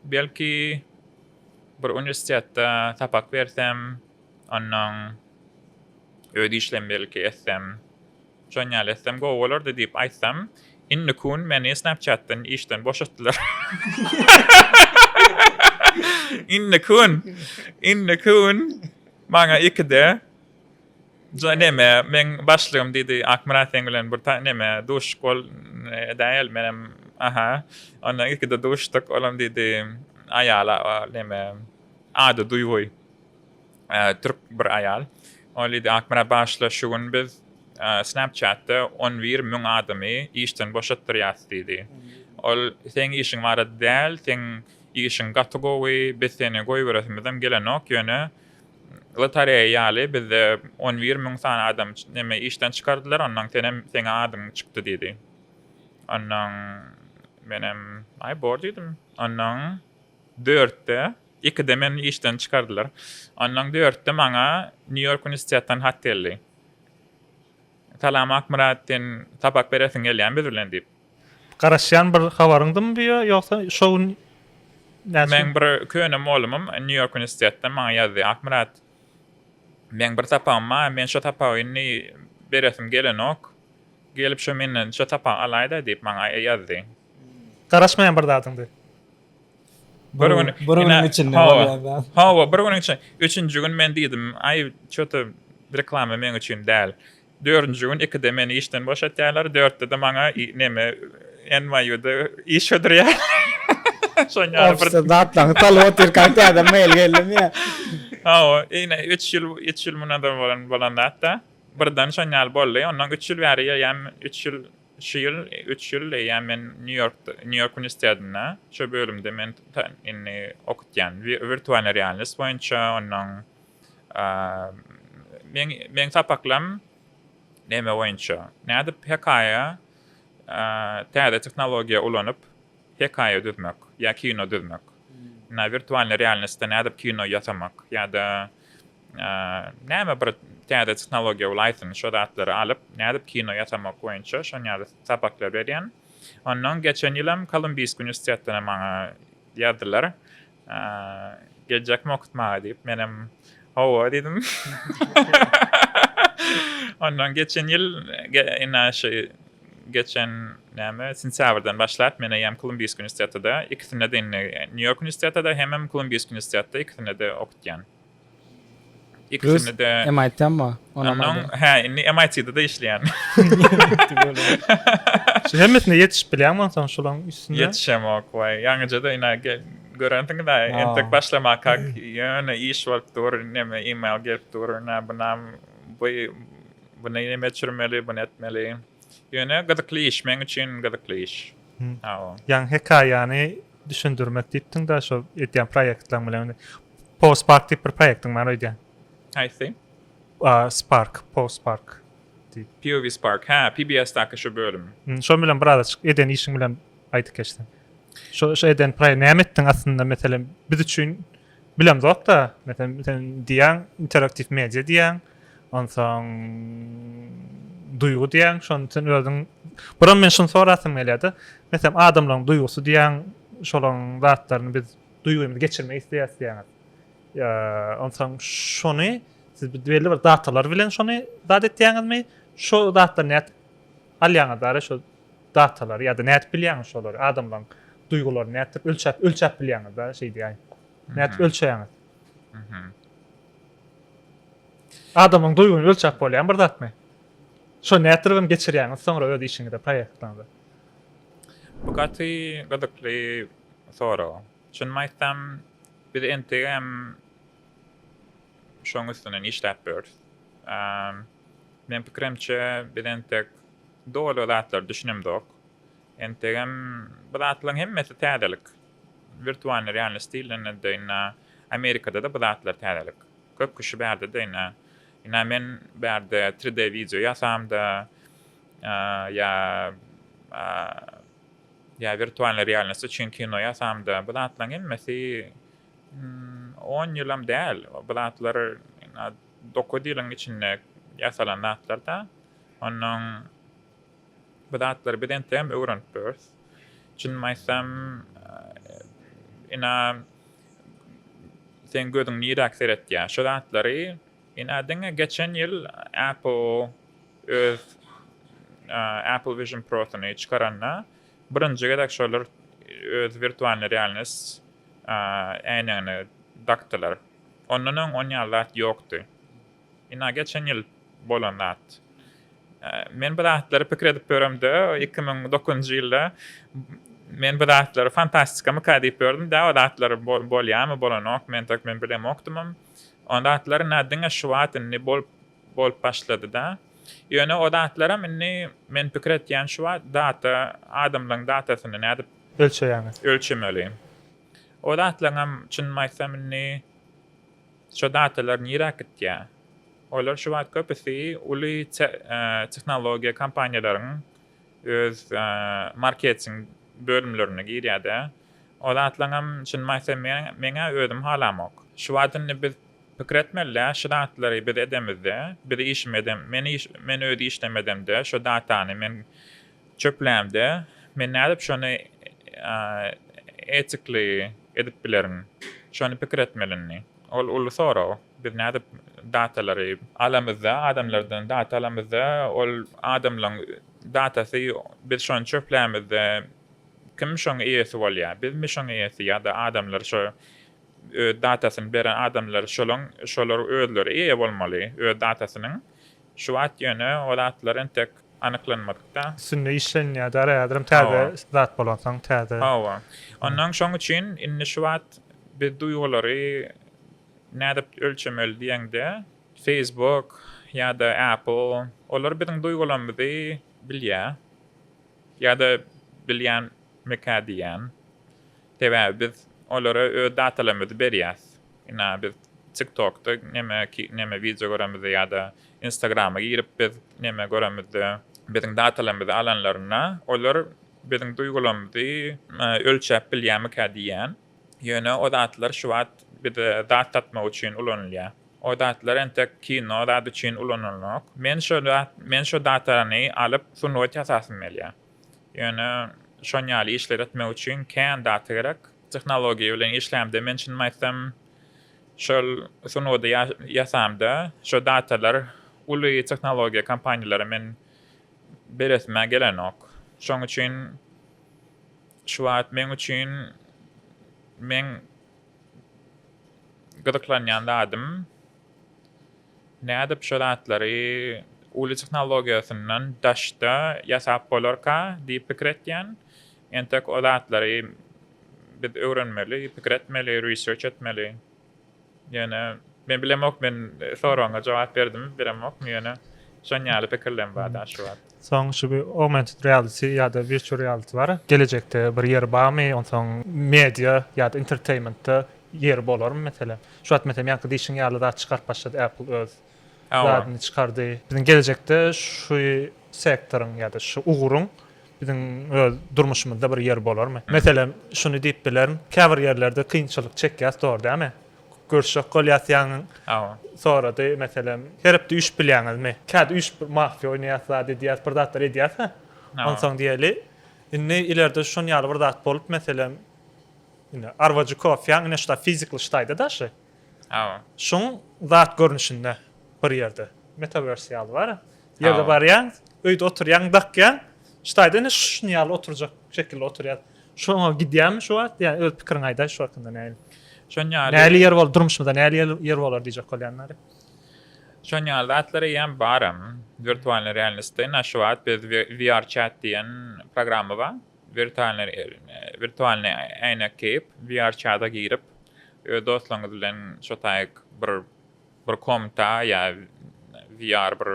Speaker 2: belki bir uniwersitetde sapak bersem, onnoň öz işlemi belki etsem, şon ýaly etsem gowy bolardy diýip aýtsam, indi kun meni snapchatdan işden boşatdylar. Indi kun, indi kun maňa ikide. Jana neme, meň başlygym diýdi, Akmyrat seň bilen bir ta neme, duşuşyk bol edäýeli, menem, aha, ondan ilkide duşduk, olam diýdi, aýala neme, ady Duýgy, türk bir aýal, ol diýdi, Akmyrat bagyşla, şu gün biz Snapchat-da on bir müň adamy işden boşatdyrýas diýdi, ol seň işiň barada däl, seň işiň gaty gowy, biz seni goýberesimizem gelenok, ýöne Lotareýa ýaly bizde on bir müň sany adam neme işden çykardylar, onnoň senem seňe adyň çykdy diýdi. Onnoň menem aý bor diýdim. Onnoň dörtde, ikide meni işden çykardylar. Onnoň dörtde maňa Nýu-Ýork uniwersitetden hat geldi. Salam Akmyrat sen sapak beresiň gelýämi biz bilen diýip. Garaşýan bir
Speaker 1: habaryňdymy bu ýa ýogsa şo gün näçe Meň
Speaker 2: bir köne molumym Nýu Ýork uniwersitetden maňa ýazdy Akmyrat meň bir sapagym bar men şo sapagy indi beresim gelenok gelip şo menden şo sapagy alaýda diýip maňa ýazdy. Garaşmaýan
Speaker 1: bir zadyňdy. Bir gün
Speaker 3: bir günüň içinde bolýan zat. Hawa bir günüň üçin
Speaker 2: üçünji gün men diýdim aý çöte reklama meň üçin däl Dördünji gün ikide meni işden boşatýarlar, dörtde-de maňa neme, NYU-da iş hödürýärler. Şoň ýaly bir. Ofisde zatlaryňy
Speaker 3: salyp otyrkaň täze mail geldimi ýa? Hawa, ine,
Speaker 2: üç ýyl, üç ýyl mundan ozal bolan zat-da. Birden şoň ýaly boldy. Ondan üç ýyl bäri eýýäm, üç ýyl, şu ýyl üç ýyl eýýäm men Nýu-Ýorkda, Nýu-Ýork uniwersitetinde, şo bölümde men indi okutýan, wirtualny realnost boýunça, onnoň. Meň meň sapaklam neme boýunça? Nädip hekaýa täze tehnologiýa ulanyp hekaýa düzmek ýa kino düzmek? Na wirtualnyý realnostda nädip kino ýasamak ýa-da näme bir täze tehnologiýa bol aýtsyn şo zatlary alyp nädip kino ýasamak boýunça şon ýaly sapaklar berýän. Ondan geçen ýylam Kolumbiyskiý uniwersitetden maňa ýazdylar. Geljekmi okutmaga diýip, menem hawa diýdim. Ondan geçen ýyl ine şu geçen näme sentýabrdan başlap men hem Kolumbiysk uniwersitetinde ikisinde de indi Nýu-Ýork uniwersitetinde hemem Kolumbiysk uniwersitetinde ikisinde de okutýan. Ikisini de. MIT-mi ba? Onam.
Speaker 4: Hä, indi
Speaker 2: MIT-de de işleýän.
Speaker 1: Şu hemmesine ýetişip bilýäňmi onsoň şulaň üstüne? Ýetişemok waý.
Speaker 2: Ýaňyja-da ina gel. Görensiň-dä, entek başlamakak ýöne iş bolup dur, neme e-mail gelip dur, nä bunam bu bu näme çürmeli, bu nätmeli. Ýöne gyzykly iş, meň üçin gyzykly iş. Hawa. Ýaňy
Speaker 1: hekaýany Düşündirmek diýipdiň da şo edýän proýektleň bilen po spark diýip bir proýektiň bar öýdýän. Haýsy?
Speaker 2: A spark
Speaker 1: po spark diýip. POV
Speaker 2: spark hä PBS daky şo bölüm. Şo bilen biraz açyk
Speaker 1: eden işiň bilen aýdyp geçseň. Şo şo eden proýekt näme etdiň aslynda meselem biz üçin. Bilemzok-da, meselem, sen diýýäň, interaktiw media diýýäň, onsoň duýgy diýýäň, şony sen özüň Buram men şuny sorasym gelýär-de, meselem, adamlaryň duýgusy diýýäň, şolaryň zatlaryny biz duýgymyzy geçirmek isleýäris diýýäňiz. Ýa, onsoň şony siz belli bir datalar bilen şony zat etýäňizmi? Şo zatlar nädip Alýaňyz ara şo datalary ýa-da nädip bilýäňiz şolary adamlaryň duýgularyny nätdirip ölçäp ölçäp bilýäňiz da şeý diýäýin. Nädip ölçeýäňiz? Adamyň duýgyny ölçäp bolýan bir zatmy? Şo nätdiribem geçirýäňiz soňra öz işiňize proýektiňize.
Speaker 2: Bu gaty gyzykly sorag. Çynymy aýtsam biz entegem şoň üstünden işläp ýörüs. Meň pikirimçe biz entek doly zatlara düşünemzok. Entegem bu zatlaryň hemmesi täzelik. Wirtualnyý realnost diýilende-de ynha Amerikada-da bu zatlar täzelik. Köp kişi bärde-de ynha, ynha men bärde tri D wideo ýasamda ýa ýa wirtualnyý realnost üçin kino ýasamda bu zatlaryň hemmesi on ýylam däl. Bu zatlar ynha Dokuz ýylyň içinde ýasalan zatlar-da. Onnoň bu zatlary biz entegem öwrenip durarys. Çynymy aýtsam, ina, seň gözüň niräk seretýär? Şu zatlary, ina, diňe geçen ýyl Apple öz Apple Vision Pro-syny çykaranda, birinji gezek şolar öz wirtualnyý realnost äýnegini dakdylar. Ondan öň on ýaly zat ýokdy. Ina geçen ýyl bolan zat. Men bu zatlary pikir edip ýöremde, iki müň dokuzynjy ýylda men bu zatlary fantastikamyka diýip ýördüm, dä o zatlar bolýamy, bolanok, men tek men bilemokdymam. O zatlar ina diňe şu wagt indi bolup bolup başlady-da. Ýöne o zatlaram indi men pikir etýän şu wagt data, adamlaryň datasyny nädip. Ölçeýäňiz? Ölçemeli. O zatlaryňam çynymy aýtsam indi şo datalar niräk gitýä? Olar şu wagt köpüsi uly tehnologiýa kompaniýalaryň öz marketing bölümlerine girýädä. O zatlaryňam çynymy aýtsam meňä özüm halamok. Şu wagt indi biz pikir etmelidä şu zatlary biz edemizde, biz işimi edem, men iş, men öz işlemi edemde şo datany men Çöplämde men nädip şony etikli edip bilerin? Şony pikir etmelini. Ol uly sorag. Biz nädip datalary. Alamyzda, adamlardan data alamyzda, ol adamlaryň datasy, biz şony çöplämizde, kim şoň eýesi bolýar? Bizmi şoň eýesi ýa-da adamlar şo öz datasyny beren adamlar şolaň şolar özleri eýe bolmaly öz datasynyň Şu wagt ýöne ol atlar entek anyklanmadykda. Üstünde işlenýär
Speaker 1: däl häzirem täze zat bolansoň täze. Hawa. Onnoň
Speaker 2: şoň üçin indi şu wagt biz duýgulary nädip ölçemeli diýeňde Facebook ýa-da Apple olar biziň duýgularymyzy bilýär ýa-da bilýärmikä diýýän. Sebäbi biz olara öz datalarymyzy berýäs. Ina biz TikTokda neme neme wideo göremizde ýa-da Instagrama girip biz neme göremizde biziň datalarymyzy alanlarynda olar biziň duýgularymyzy ölçäp bilýärmikä diýýän. Ýöne o zatlar şu wagt bize zat satmak üçin ulanylýar. O zatlar entek kino zat üçin ulanylnok. Men şo zat men şo datany alyp sungat ýasasym gelýär. Ýöne şon ýaly işleri etmek üçin kän zat gerek. Tehnologiýa bilen işlämde men çynymy aýtsam şol sungudy ýasamda şo zatalar uly tehnologiýa kompaniýalara men beresimä gelenok. Şoň üçin şu wagt meň üçin meň gyzyklanýan zadym. Nädip şo zatlary uly tehnologiýasyndan daşda ýasap bolarka diýip pikir etýän. Entek o zatlary biz öwrenmeli, pikir etmeli, research etmeli. Ýöne men bilemok men soragyňa jogap berdimi bilemokmy ýöne şon ýaly pikirlerim bar daşy wagt. Soň şu augmented
Speaker 1: reality ýa-da virtual reality bar. Gelejekde bir ýeri barmy? Onsoň media ýa-da entertainmentda ýeri bolarmy meselem? Şu wagt meselem ýaňky diýşiň ýaly zat çykaryp başlady Apple öz zadyny çykardy. Biziň gelejekde şu sektoryň ýa-da şu ugruň biziň öz durmuşymyzda bir ýeri bolarmy? Meselem şuny diýip bilerin, käbir ýerlerde kynçylyk çekýäs dogry dälmi? Görüşjek bolýasýaň sorady, meselem, herepde üýşüp bilýäňizmi? Käte üýşüp mafiýa oýnaýas, zat edýäs, bir zatlar edýäs-hä. Onsoň diýeli, indi ilerde şon ýaly bir zat bolup, meselem, indi arwajy kofýaň ine şuda fizikly ştaýda daşy. Şoň zat görnüşinde bir ýerde. Metaverse ýaly bar. Ýerde barýaň, öýde oturýaň, dakýaň. Ştaýda indi şuny ýaly oturjak şekilde oturýar. Şoňa gidýärmi şu wagt? Ýa öz pikiriňi aýdaý şu hakynda näli? Şon ýaly. Näli ýer bol, durmuşymyzda näli ýer bolar diýjek bolýanlar. Şon
Speaker 2: ýaly zatlar eýýäm baram. Wirtualnyý realnostda indi şu wagt biz VR chat diýen programma bar. Wirtualnyý wirtualnyý äýnek geýip, VR chata girip, öz dostlaryňyz bilen şotaýyk bir bir komta ýa VR bir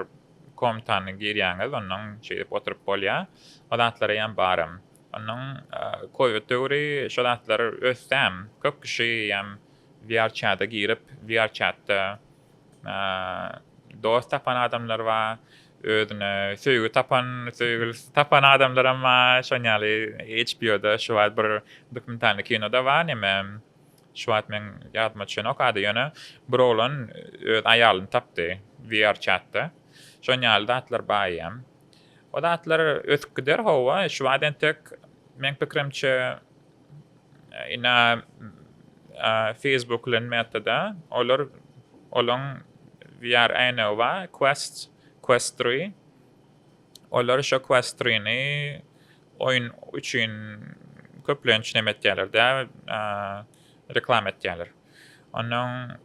Speaker 2: komtany girýäňiz, ondan şeýdip oturyp bolýar. O zatlara ýan baram. Ondan covid döwri şo zatlar ösdäm. Köp kişi ýan VR çada girip, VR çatda dost tapan adamlar bar, özüne söýgi tapan, söýgülisi tapan adamlaram bar. Şoň ýaly HBO-da şu wagt bir dokumentalny kino-da bar, näme Şu wagt meň ýadyma düşenokady, ýöne bir oglan öz aýalyny tapdy VRchat-da. Şon ýaly zatlar bar eýýäm. O zatlar ösüp gider, howwa, şu wagt entek meň pikirimçe ina Facebook bilen Meta-da olar olaň VR äýnegi bar, Quest, Quest three. Olar şo Quest three-ni Oýun üçin köplenç näme etýärler dä? Reklama etýärler. Ondan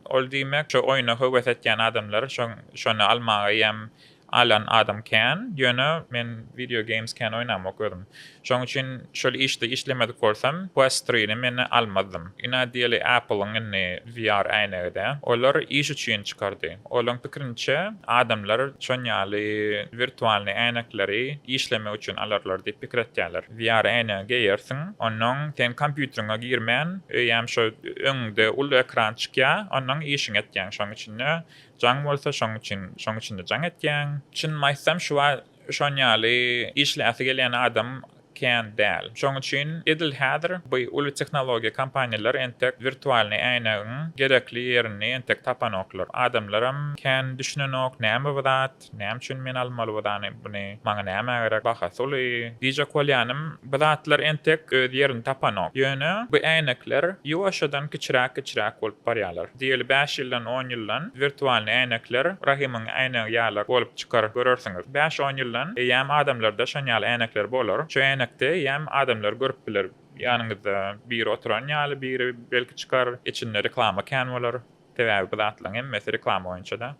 Speaker 2: ol diýmek, şo oýuna höwes etýän adamlar şony almaga ýem alan adam kän. Ýöne men video games kän oýnamok özüm. Şoň üçin şol işde işlemedik bolsam, Quest Three-ni men almazdym. Ynha diýeli Apple-yň indi VR äýnegi-dä. Olar iş üçin çykardy. Olaryň pikrinçe, adamlar şon ýaly wirtualnyý äýnekleri işlemek üçin alarlar diýip pikir etýärler. VR äýnegi geýersiň, onnoň seň kompýuteriňe girmän, öýem şo öňüňde uly ekran çykýar, onnoň işiňi etýäň. Şoň içinde jaň bolsa, şoň üçin, şoň içinde jaň etýäň. Çynymy aýtsam, şu wagt Şoň ýaly işläsi gelýän adam kän däl. Şoň üçin edil häzir bu uly tehnologiýa kompaniýalar entek wirtualnyý äýnegiň gerekli ýerini entek tapanoklar. Adamlaram kän düşünenok, näme bu zat, näme üçin men almaly bu zany, buny, maňa nämä gerek, bahasy uly, diýjek bolýanym, Bu zatlar entek öz ýerini tapanok. Ýöne bu äýnekler ýuwaşjadan kiçiräk-kiçiräk bolup barýarlar. Diýeli bäş ýyldan, on ýyldan wirtualnyý äýnekler Rahymyň äýnegi ýaly bolup çykar, görersiňiz. Bäş-on ýyldan eýýäm adamlarda şon ýaly äýnekler bolar. Şu äýnekde eýýäm adamlar görüp biler. Ýanyňyzda biri oturan ýaly biri belki çykar, içinde reklama kän bolar. Sebäbi bu zatlaryň hemmesi reklama boýunça-da.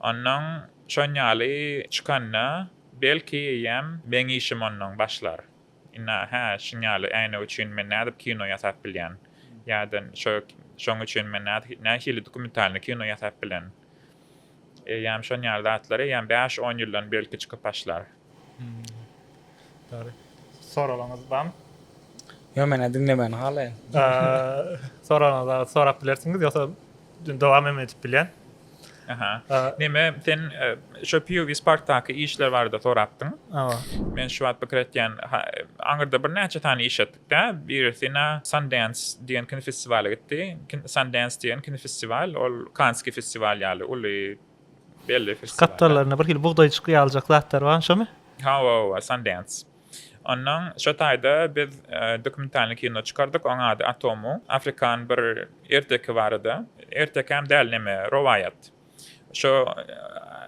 Speaker 2: Onnoň şon ýaly çykanda, belki eýýäm meň işim onnoň başlar. Indi hä, şuň ýaly äýnek üçin men nädip kino ýasap bilýän? Ýa-da şo şoň üçin men nähili dokumentalny kino ýasap bilen? Eýýäm şon ýaly zatlar eýýäm bäş-on ýyldan belki çykyp başlar. Dogry.
Speaker 1: Soraglaryňyz barmy? Ýok men
Speaker 3: diňlemegini halaýan. Soraglaryňyzy
Speaker 1: sorap bilersiňiz ýogsa dowam hem edip bilýän.
Speaker 2: Neme sen şo PUV Sparkdaky işler barada sorapdyň. Hawa. Men şu wagt pikir etýän aňyrda birnäçe sany iş etdikdä birisi ina Sundance diýen kinofestiwala gitdi. Sundance diýen kinofestiwal ol Kanski festiwal ýaly uly Belli festiwal. Skaptalarynda bir hili bugdaýjykly
Speaker 1: ýalyjak zatlar barmy şomy? Hawa hawa Sundance.
Speaker 2: Ondan şo taýda biz dokumentalny kino çykardyk oň ady Atomu. Afrikan bir erteki barada. Ertekäm däl neme rowaýat. Şo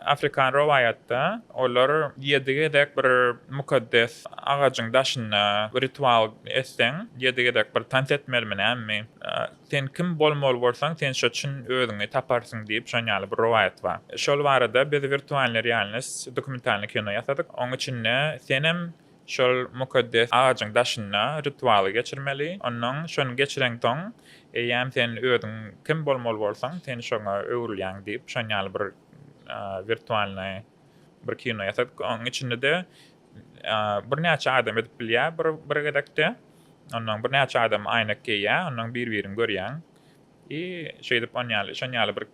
Speaker 2: afrikan rowaýatda olar ýedi gezek bir mukaddes agajyň daşynda ritual etseň ýedi gezek bir tans etmelimi näme Sen kim bolmaly bolsaň, sen şo çyn özüňi taparsyň diýip, şon ýaly bir rowaýat bar. Şol barada biz Wirtualnyý realnost dokumentalnyý kino ýasadyk. Oň içinde senem şol mukaddes agajyň daşynda ritualy geçirmeli. Onnoň şony geçireňsoň, eýýäm sen özüň kim bolmaly bolsaň, sen şoňa öwrülýäň diýip, şon ýaly bir wirtualnyý bir kino ýasadyk. Oň içinde-de Birnäçe adam edip bilýär bir gezekde. Ondan birnäçe adam aýnak geýýär, ondan bir-birini görýäň. I şeýdip on ýaly, şon ýaly bir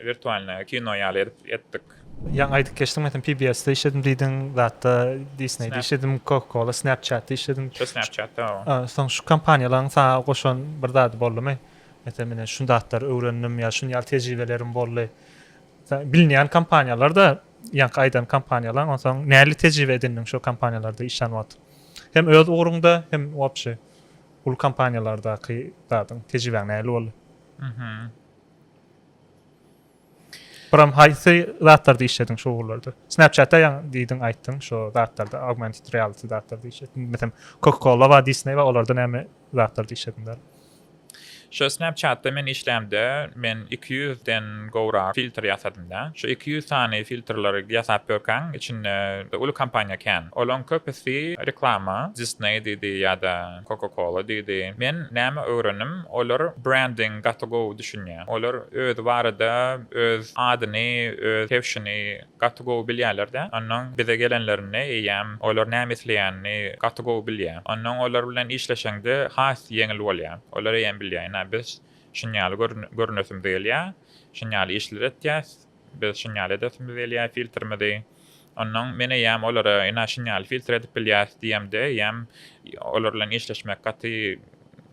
Speaker 2: wirtualnyý kino ýaly edip etdik. Ýaňy aýdyp geçdiň,
Speaker 1: metem PBS-de işledim diýdiň, zatda Disney-de işledim, Coca-Cola, Snapchat-da işledim. Şo Snapchat-da hawa.
Speaker 2: Soň şu kompaniýalaryň
Speaker 1: saňa goşan bir zady boldumy? Metem ine şu zatlary öwrendim ýa şuny ýaly tejribelerim boldy. Bilinýän kompaniýalar-da, ýaňky aýdan kompaniýalaň, onsoň nähili tejribe edindiň şo kompaniýalarda işlän wagt? Hem öz ugruňda, hem wobşe uly kompaniýalardaky zadyň, tejribäň nähili boldy? Buram haýsy zatlarda işlediň şu ugurlarda? Snapchat-da ýaňy diýdiň, aýtdyň, şo zatlarda, augmented reality zatlarda işlediň. Meselem, Coca-Cola bar, Disney bar, olarda näme zatlarda işlediň däl? Şu
Speaker 2: snapchatda men işlämde men iki ýüz den gowrak filtr ýasadymda. Şu iki ýüz sany filtrleri ýasap görkäň içinde uly kompaniýa kän. Olaň köpüsi reklama disney diýdi ýada coca cola diýdi. Men näme öwrendim olar branding gaty gowy düşünýä. Olar özi barada öz adyny öz kewşini Gaty gowy bilýäler-dä. Onnoň bize gelenlerinde eýýäm olar näme isleýänini gaty gowy bilýä. Onnoň olar bilen işleşeňde has ýeňil bolýa. Olar eýýäm bilýä, ine, biz şunýaly görünesimiz gelýä, şunýaly işleri etýäs, biz şunýaly edesimiz gelýä filtrimizi. Onnoň men eýýäm olara, ine, şunýaly filtr edip bilýäs diýemde eýýäm olar bilen işleşmek gaty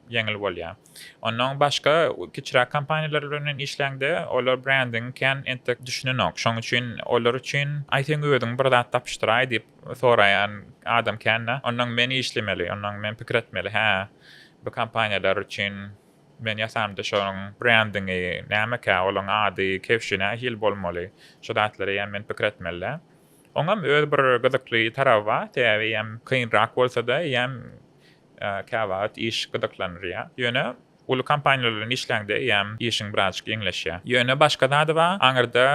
Speaker 2: ýeňil bolýa. Ondan başga kiçiräk kompaniýalar bilen men işlände olar brendiňi kän entek düşünenok. Şoň üçin olar üçin aý seň özüň bir zat tapyşdyraý diýip soraýan adam kände. Ondan men işlemeli, ondan men pikir etmeli, hä bu kompaniýalar üçin men ýasamda şonuň brendiňi nämekä, olaň ady, kewşi nähili bolmaly, şu zatlar eýýäm men pikir etmelidä. Oňam öz bir gyzykly taraby bar, sebäbi eýýäm kynrak bolsada eýýäm Käwagt iş gyzyklandyrýar. Ýöne uly kompaniýalar bilen işläňde eýýäm işiň birazjyk ýeňleşýär. Ýöne başga zady bar, aňyrda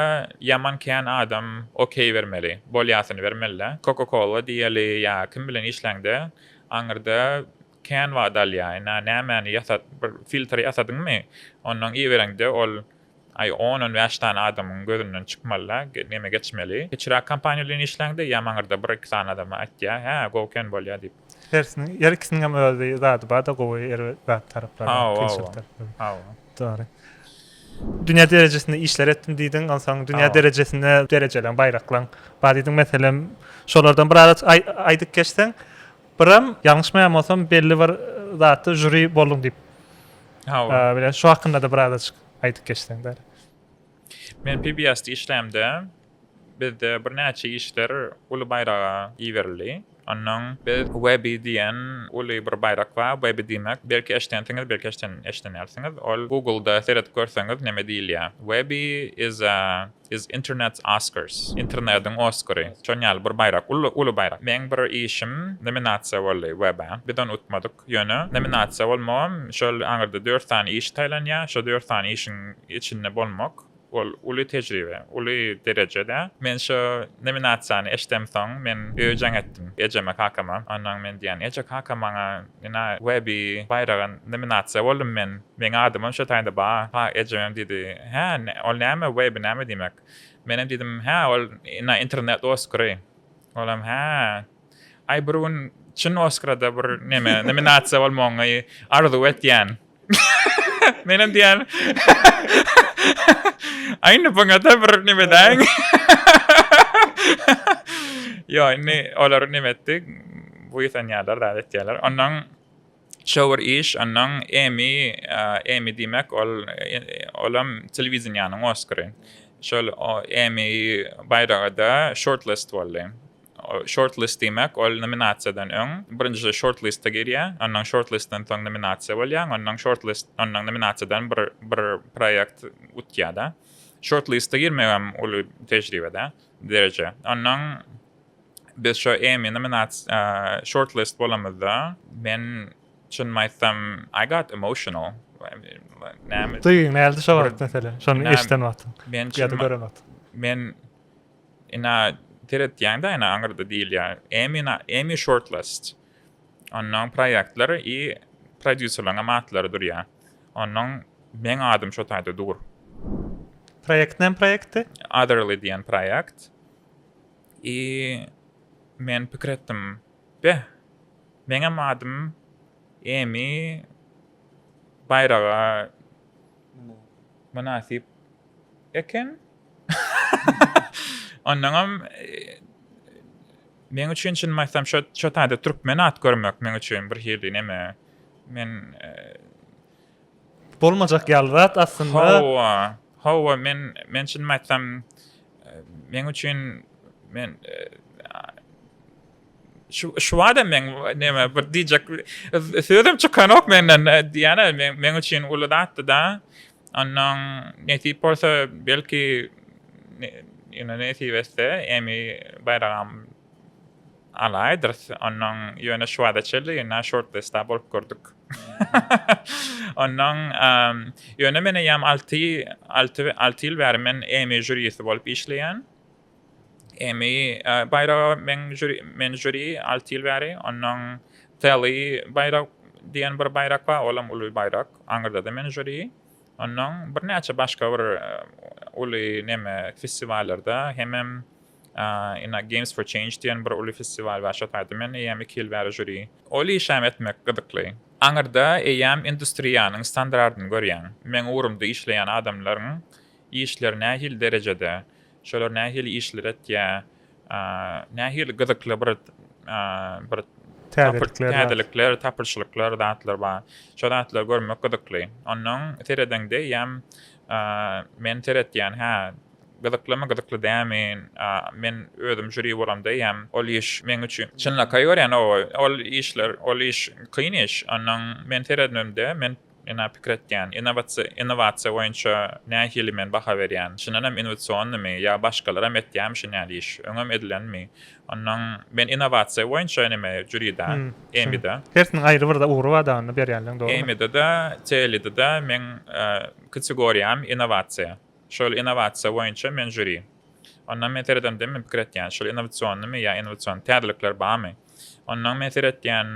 Speaker 2: ýaman kän adam okeý bermeli, bolýasyny bermeli-de. Coca-Cola diýeli ýa kim bilen işläňde aňyrda kän wagt alýar. Ine, nämäni ýasat, bir filtr ýasadyňmy, onnoň ibereňde ol Aý on-on bäş sany adamyň gözünden çykmaly-da, neme geçmeli. Kiçiräk kompaniýa bilen işläňde ýa maňyrda bir-iki sany adama aýtýa, hä, gowyken bolýa diýip. Hersiniň, her ikisiniň
Speaker 1: hem öz bir zady bar-da, gowy, erbet zat taraplary, Hawa, kynçylyk taraplary. Hawa. Dogry. Dünýä derejesinde işler etdim diýdiň, onsoň dünýä derejesinde derejeleň, baýraklaň bar diýdiň. Meselem, şolardan bir ara aýdyp geçseň, Biram ýalňyşmaýan bolsam belli bir zatda žuri bolduň diýip. Hawa. Bile şu hakyndada biraz açyk aýdyp geçseň däli.
Speaker 2: Men PBS-de işlämde bizde bir näçe işler uly baýraga iberildi. Ondan biz Webby diýen uly bir baýrak bar. Webby diýmek, belki eşdensiňiz, belki eşden eşdenersiňiz. Ol Google-da seredip görseňiz näme diýilýär. Webby is a. Biz Internet's Oscars, Internediň Oskary, şon ýaly bir baýrak, uly, uly baýrak. Meň bir işim nominasiýa boldy WEB-e. Biz ony utmadyk. Ýöne nominasiýa bolmagam, şol aňyrda dört sany iş saýlanýar. Şo dört sany işiň içinde bolmak, ol uly tejribe, uly dereje-dä. Men şo nominasiýany eşdemsoň, men öýe jaň etdim. Ejeme, kakama. Onsoň men diýýän, Eje, kaka maňa Ina, Webi, baýraga nominasiýa boldum men. Meň adymam şo taýda ba. Ha, ejeňem diýdi. Hä, ol näme, Webi näme diýmek? Menem diýdim, Hä, ol, ina, internet Oskary. Olam, Hä. Aý, bir gün çyn Oskara-da bir neme, nominasiýa bolmagyňy arzuw etýän. Menem diýen. Aýny baňada bir nime däň. Ýa, indi olary nime etdik? Bu ýeten ýalar da etýärler. Ondan şowur iş, ondan Emmy, Emmy diýmek ol olam telewiziniýanyň Oskary. Şol Emmy baýraga da shortlist boldy. Shortlist diýmek, ol nominasiýadan öň, birinji shortliste girýär, onnoň shortlistden soň nominasiýa bolýaň, onnoň shortlist, onnoň nominasiýadan bir bir proýekt utýa-da. Shortliste girmegem uly tejribe-dä, dereje. Onnoň biz şo Emmy nominasi, shortlist bolamyzda, men çynymy aýtsam, I got emotional. Näme?
Speaker 1: Duýgyň näldi şo wagt, meselem, şony eşiden wagtyň ýa-da gören
Speaker 2: wagtyň?
Speaker 1: Men.
Speaker 2: Ina seretýäňda ina aňyrda diýilýär Emmy Emmy shortlist. Onnoň proýektler i prodýuserleriňem atlary durýar. Onnoň meň adym şo taýda dur. Proýekt näme proýektdi?
Speaker 1: Otherly diýen
Speaker 2: proýekt. I men pikir etdim beh meňem adym Emmy baýraga mynasyp eken. Ondanam meň üçin çynymy aýtsam şo şo taýda türkmen at görmek meň üçin bir hili neme. Men
Speaker 1: bolmajak ýaly zat aslynda. Hawa. Hawa men
Speaker 2: men çynymy aýtsam meň üçin men şu şu adam men neme bir diýjek sözüm çykanok menden diýene men men üçin uly zatdy da. Onnoň nesip bolsa, belki, ýöne nesip etse, emmi baýragam alaýdyrys. Onnoň ýöne şu wagta çenli ýöne şortlistda bolup gördük. Onnoň, ýöne men eýýäm alty alty ýyl bäri men emmi žýurisi bolup işleýän. Emmy baýraga men žüri, men žüri alty ýyl bäri. Ondan Telly baýrak diýen bir baýrak bar, olam uly baýrak. Aňyrda-da men žüri. Ondan birnäçe başga bir uly neme festiwallarda hemem ina Games for Change diýen bir uly festiwal bar, şo taýda men eýýäm iki ýyl bäri žüri. Ol işem etmek gyzykly. Aňyrda eýýäm industriýanyň standardyny görýäň. Meň ugrumda işleýän adamlaryň Işleri nähili derejede, şolar nähili işler etýär, nähili gyzykly bir bir täzelikler, tapyşlyklar, zatlar bar. Şo zatlary görmek gyzykly. Onnoň seredeňde eýýäm men seretýän, hä, gyzyklymy, gyzykly dälmi, men özüm žuri bolamda eýýäm ol iş meň üçin çynlakaý görýän, ol işler, ol iş kyn iş. Onnoň men seredemde, men Ene pikir etýän, innowasiýa boýunça nähili men baha berýän, çyndan hem innowasionnymy, ýa başgalaram etýärmi şun ýaly iş, öňem edilenmi, onnoň men innowasiýa boýunça eneme jüride, EMI-de. Hersiniň aýry bir-de
Speaker 1: ugry bar dagyny berýänleň dogrymy? EMI-de-de,
Speaker 2: TELI-de-de meň kategoriýam innowasiýa. Şol innowasiýa boýunça men jüri. Onnoň men seredemde men pikir etýän, şol innowasionnymy ýa innowasion täzelikler barmy, onnoň men seretýän,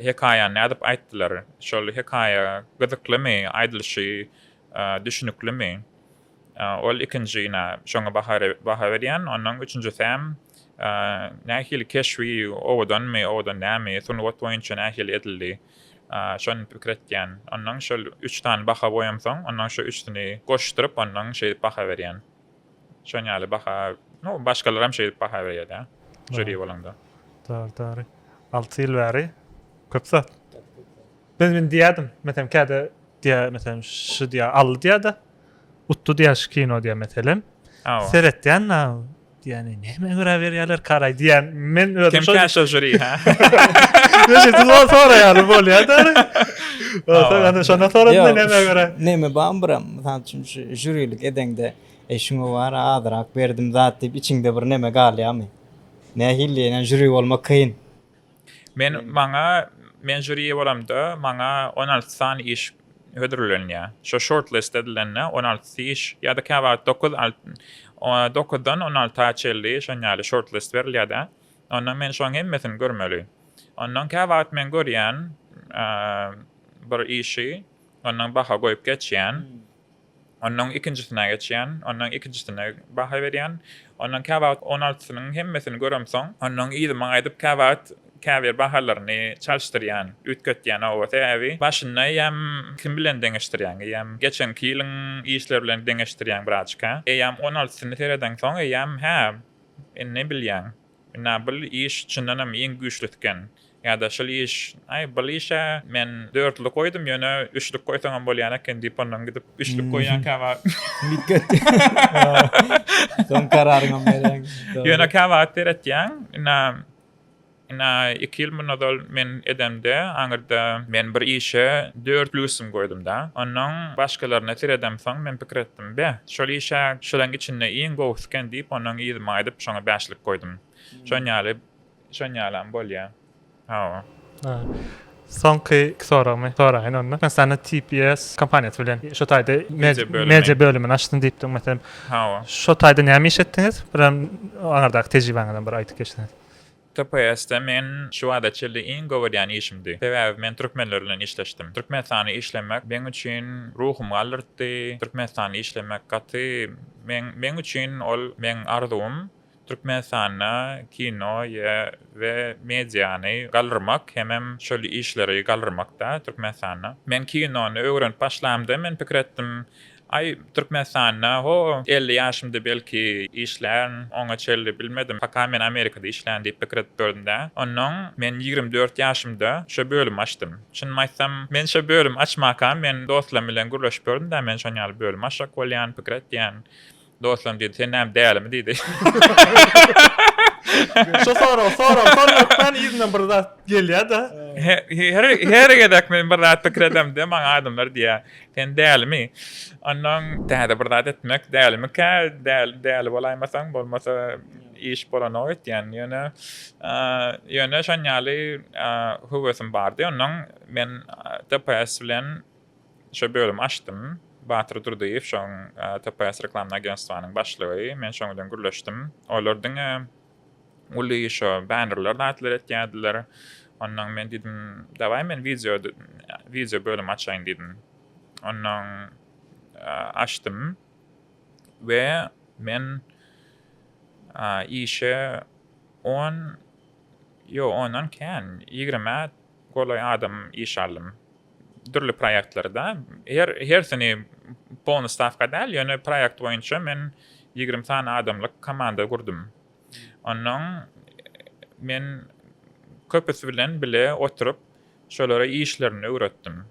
Speaker 2: Hekaýany nädip aýtdylar? Şol hekaýa gyzyklymy, aýdylyşy düşüniklimi? Ol ikinji nä, şoňa baha berýän. Onnoň üçünjisäm nähili keşbi, owadanmy, owadan dälmi, sungat boýunça nähili edildi? Şony pikir etýän. Onnoň şol üç sany baha goýamsoň, onnoň şu üçüsini goşduryp, onnoň şeýdip baha berýän. Şon ýaly baha, no başgalaram şeýdip baha berýärda, žuri bolanda. Dogry, dogry.
Speaker 1: Alty ýyl bäri köp zat. Biz indi diýerdim, meselem käde diýer, meselem şu diýer, aldy diýerda, utdy diýer şu kino diýer meselem. Seretýän na diýen, näme göra berýärler karaý diýen. Men özüm şo. Kimkä şo žuri ha?
Speaker 2: Neşe
Speaker 1: siz ol soraýaly bolýarda. Ol soraýanda şonda sorasyn näme göra. Näme bam biram.
Speaker 3: Mysal üçin, şu žýurilik edeňde, Eý, şuňa wara azrak berdim zat diýip, içiňde bir neme galýarmy? Nähili diýenä, žuri bolmak kyn. Men, maňa,
Speaker 2: men žuri bolamda, maňa on alty sany iş hödürlenýär. Şo shortlist edilende, on altysy iş, ýa-da käwagt dokuz, alt, dokuzdan on alta çenli şon ýaly shortlist berilýär-de. Ondan men şoň hemmesini görmeli. Ondan käwagt men görýän bir işi, Ondan baha goýup geçýän. Ondan ikinjisine geçýän. Ondan ikinjisine baha berýän. Ondan käwagt on altysynyň hemmesini göremsoň, ondan yzyma gaýdyp käwagt käbir bahalaryny çalyşdyrýan, üýtgetýän oba. Sebäbi başynda eýýäm kim bilen deňeşdirýäň? Eýýäm geçenki ýylyň işleri bilen deňeşdirýäň birazjyk-a. Eýýäm on altysyny seredeňsoň, eýýäm, hä, indi bilýäň. Ynha bul iş çyndanam iň güýçlüsiken. Ýa-da şul iş, Aý, bul işe men dörtlük goýdum, ýöne üçlük goýsaňam bolýan eken diýip ondan gidip üçlük goýýan käwagt. Soň
Speaker 3: kararyňam berýäň.
Speaker 2: Ýöne
Speaker 3: käwagt seretýäň,
Speaker 2: ynha, ynha iki ýyl mundan ozal men edemde, aňyrda men bir işe dört plýusym goýdum-da. Onnoň başgalaryna seredemsoň men pikir Be, şol iş-ä şuleň içinde iň gowusy eken diýip, ondan yzymy aýdyp, şoňa bäşlik goýdum. Şon ýaly, şon ýalam bolýa. Hawa. Ha.
Speaker 1: Soňky iki soragymy soraýyn onda. Türkmenistanda TPS kompaniýasy bilen şu taýda media bölümini açdym diýipdiň, meselem. Hawa. Şo
Speaker 2: taýda näme iş
Speaker 1: etdiňiz? Birem aňyrdaky tejribeňizem bir aýdyp geçseňiz. TPS-de
Speaker 2: men şu bada çenli iň gowy edýän işimdi. Sebäbi men türkmenler bilen işleşdim. Türkmenistanda işlemek meň üçin ruhumy galdyrtdy. Türkmenistanda işlemek gaty meň meň üçin ol meň arzuwym Türkmenistanda kino ýa we mediany galdyrmak hemem şol işleri galdyrmakda Türkmenistanda. Men kinony öwrenip başlamda men pikir etdim Aý, Türkmenistanda, ho, elli ýaşymda belki işlän, oňa çenli bilmedim, paka men Amerikada işlän diýip pikir edip gördüm-dä. Onnoň men ýigrimi dört ýaşymda şo bölümi açdym. Çynymy aýtsam, men şo bölümi açmaka men dostlarym bilen gürleşip gördüm-dä, men şoň ýaly bölüm açjak bolýan, pikir etýän. Dostlarym diýdi, sen näme dälimi diýdi. Şo
Speaker 1: sorag, sorag, sorag hökmän yzyndan bir zat gelýär-de. Her,
Speaker 2: her gezek men bir zat pikir edemde, maňa adamlar diýýär, sen dälimi? Ondan täze bir zat etmek dälimikä? Däli, däli bolaýmasaň, bolmasa iş bolanok etýän. Ýöne, ýöne şon ýaly höwesim bardy. Ondan men TPS bilen Şu bölümi açdym. Batyr Durdyýew şoň TPS Reklamny Agenstwanyň başlygy. Men şoň bilen gürleşdim. Olar diňe uly şo bannerler zatlar etýärdiler. Onnoň men diýdim, Dawaý men wideo wideo bölümi açaýyn diýdim. Onnoň açdym we men işe on ýo ondan kän ýigrimä golaý adam iş aldym. dürli proýektleri da her hersini polny stawka däl ýöne proýekt boýunça men ýigrimi sany adamlyk komanda gurdum onnoň men köpüsi bilen bile oturyp şolara işlerini öwretdim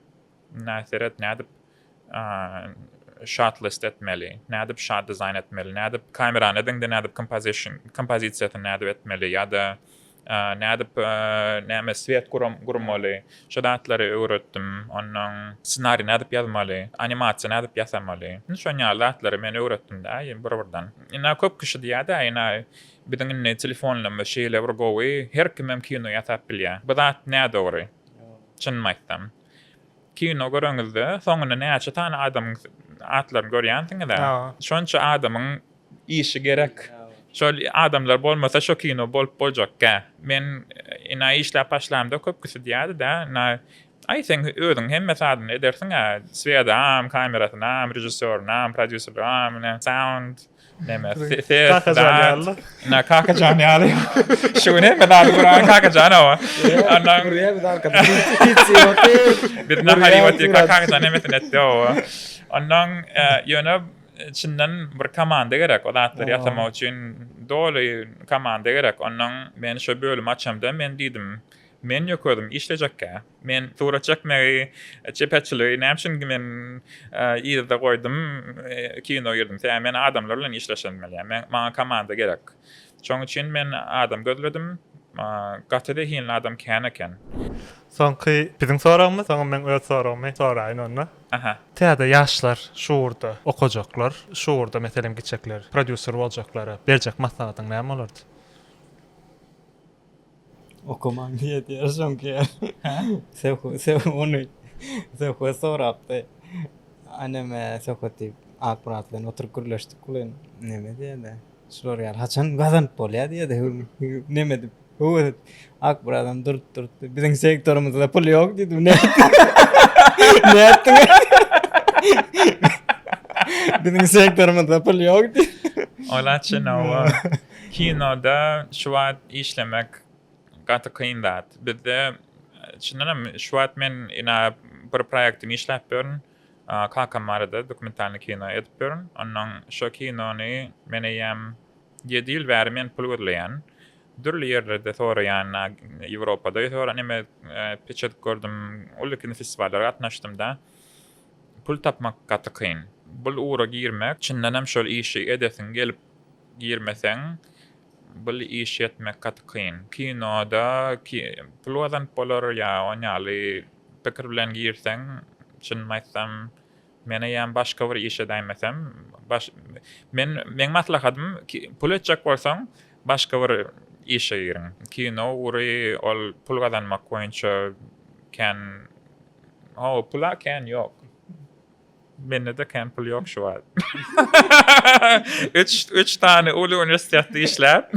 Speaker 2: näseret nädip şat list etmeli nädip şat dizaýn etmeli nädip kamerany ediňde nädip kompozisiýasyny nädip etmeli ýa-da Nädip näme swet gurmaly, şo zatlary öwretdim. Onnoň ssenari nädip ýazmaly, animasiýa nädip ýasamaly. Indi şon ýaly zatlary men öwretdim-dä bir-birden. Ina köp kişi diýýär-dä, ina biziň indi telefonlarymyz şeýle bir gowy, her kimem kino ýasap bilýär. Bu zat nädogry, çynymy aýtsam. Kino göreňizde soňunda näçe sany adamyň atlaryny görýänsiňizä? Şonça adamyň işi gerek. Şol adamlar bolmasa şo kino bolup boljakkä. Men ina işläp başlamda köpküsi diýýärdi-dä, ina aý seň özüň hemme sazyny edersiňä, swedaam, kamerasynam, režissýorynam, prodýuserligam, ine sound. Näme? Kakajan ýaly. Na kakajan ýaly. Şu gün hem zat guran kakajan o. Andan gurýar biz arkada. Biz nahary otyr kakajan hemmesin etdi o. Andan ýöne çyndan bir komanda gerek o zatlar ýasamak üçin doly komanda gerek. Ondan men şu bölümi açamda men diýdim. Men ýok özüm işlejekkä. Men surat çekmegi, çeperçiligi näme üçin men yzda goýdum, kino girdim. Sebäbi men adamlar bilen işleşenmeliyim. Men maňa komanda gerek. Şoň üçin men adam gözledim. Gaty zehinli adam kän eken. Soňky
Speaker 1: biziň soragymyz, soň men öz soragymy soraýyn onda. Aha. Täze
Speaker 2: ýaşlar
Speaker 1: şu ugurda okajaklar, şu ugurda meselem gitjekler, prodýuser boljaklara berjek maslahatyň näme bolardy?
Speaker 3: Okaman diýýär diýýär soňky. Hä? Söh söh ony söhbet sorapdy. Aneme söhbet diýip Akmyrat bilen oturyp gürleşdik bilen. Neme diýýärdi? Şular ýaly haçan gazanyp bolýar diýýärdi. Neme edip? Höwes edip. Akmyrat hem durup durupdy. Biziň sektorymyzda pul ýok diýdi. Ne? Ne etdiň? Biziň sektorymyzda pul ýok diýdi. Olaçy nawa.
Speaker 2: Kinoda şu wagt işlemek gaty kyn zat. Bizde çyndanam şu wagt men ina bir proýektim işläp ýörün. Kakam barada dokumentalny kino edip ýörün. Onnoň şo kinony men eýýäm ýedi ýyl bäri men pul gözleýän. Dürli ýerlerde soraýan, Ýewropada ýa-da neme peçetik gördüm, uly kinofestiwallara gatnaşdym-da. Pul tapmak gaty kyn. Bul ugra girmek, çyndanam şol işi edesiň gelip girmeseň bul iş etmek gaty kyn. Kinoda pul gazanyp bolar ýa on ýaly pikir bilen girseň çynymy aýtsam men eýýäm başga bir iş edäýmesem men meň maslahatym pul etjek bolsaň başga bir işe giriň kino ugry ol pul gazanmak boýunça kän hawa pula kän ýok. Mende-de kän pul ýok şu wagt. Üç, üç sany uly uniwersitetde işläp.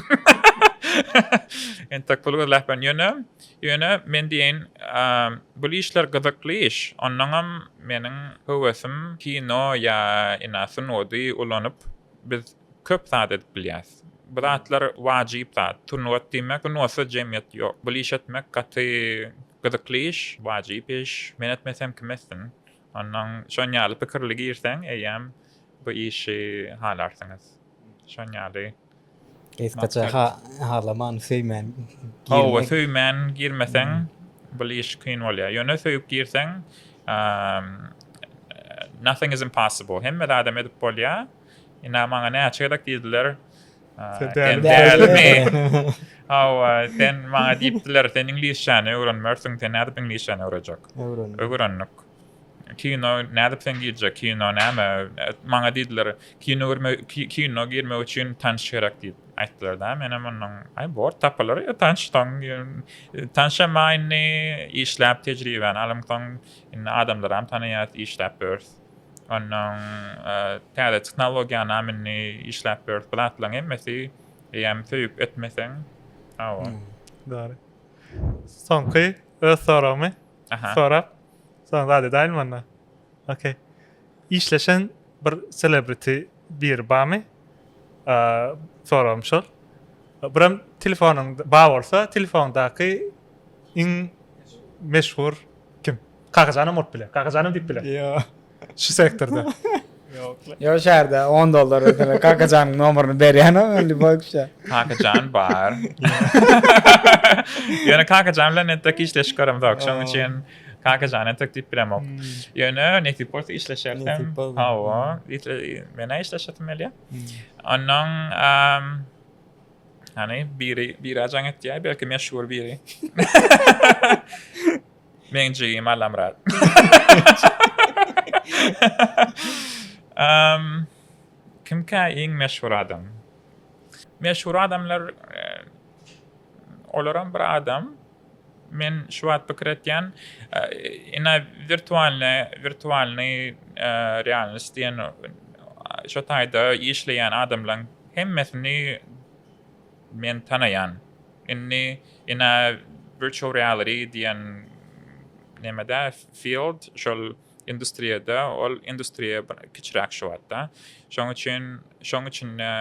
Speaker 2: Entek pul gürläp ben. Ýöne, ýöne men diýeýin, eee, bul işler gyzykly iş. Onnoňam meniň höwesim kino ýa ina sungaty ulanyp biz köp zat edip bilýäs. Bu zatlar wajyp zat. Sungat diýmek, sungatsy jemgyýet ýok. Bul iş etmek gaty gyzykly iş, wajyp iş. Men etmesem kim etsin? Ondan şon ýaly pikirli girseň eýýäm bu işi halarsyňyz. Şon ýaly. Gysgaça
Speaker 3: halaman, söýmän girmek. Hawa, söýmän
Speaker 2: girmeseň bul iş kyn bolýar. Ýöne söýüp girseň nothing is impossible. Hemme zadam edip bolýar. Ina maňa näçe gezek diýdiler, Sen dälimi? Hawa, sen maňa diýipdiler, sen iňlisçäni öwrenmersiň, sen nädip iňlisçäni öwrejek? Öwrendik. Öwrendik. Kino nädip sen girjek? Kino näme? Maňa diýdiler, kino görme, kino girmek üçin tanş gerek diýip aýtdylar da. Men hem ondan, aý bor, tapylar ýa tanş soň. Tanşa maýny işläp tejribäni alyň soň, indi adamlaram tanaýas, işläp börs. Ondan täze tehnologiýanam indi işläp ýörüs. Bu zatlaryň hemmesi eýýäm söýüp etmeseň, hawa.
Speaker 1: Dogry. Soňky öz soragymy sorap, soň zat edäýinmi onda? Okey. Işleşen bir selebriti biri barmy? Soragym şol. Birem telefonyň bar bolsa, telefonyňdaky iň meşhur Kim? Kakajanam bolup biler. Kakajanam diýip biler. Ýok. Şu
Speaker 3: sektorda.
Speaker 1: Ýok
Speaker 3: la. Ýok şäherde on dollar ötüne Kakajanyň nomeryny berýänok indi boýukça. Kakajan bar.
Speaker 2: Ýöne Kakajan bilen entek işleşik göremedik. Şonuň üçin Kakajan entek diýip bilemok. Ýöne nesip bolsa işleşeris hem. Hawa. Men-ä işleşesim gelýär. Onnoň Hani biri biri jaň etýär, belki meşhur biri. Meň jigim Alamrat. um, kimkä iň meşhur adam? Meşhur adamlar e, olaram bir adam. Men şu wagt pikir etýän, ine wirtualne, wirtualnyý realnost diýen şo taýda işleýän adamlaň hemmesini men tanaýan. Indi ine virtual reality diýen nemede, field, şol industriýada, ol industriýa kiçiräk şu wagtda. Şoň üçin, şoň üçin-de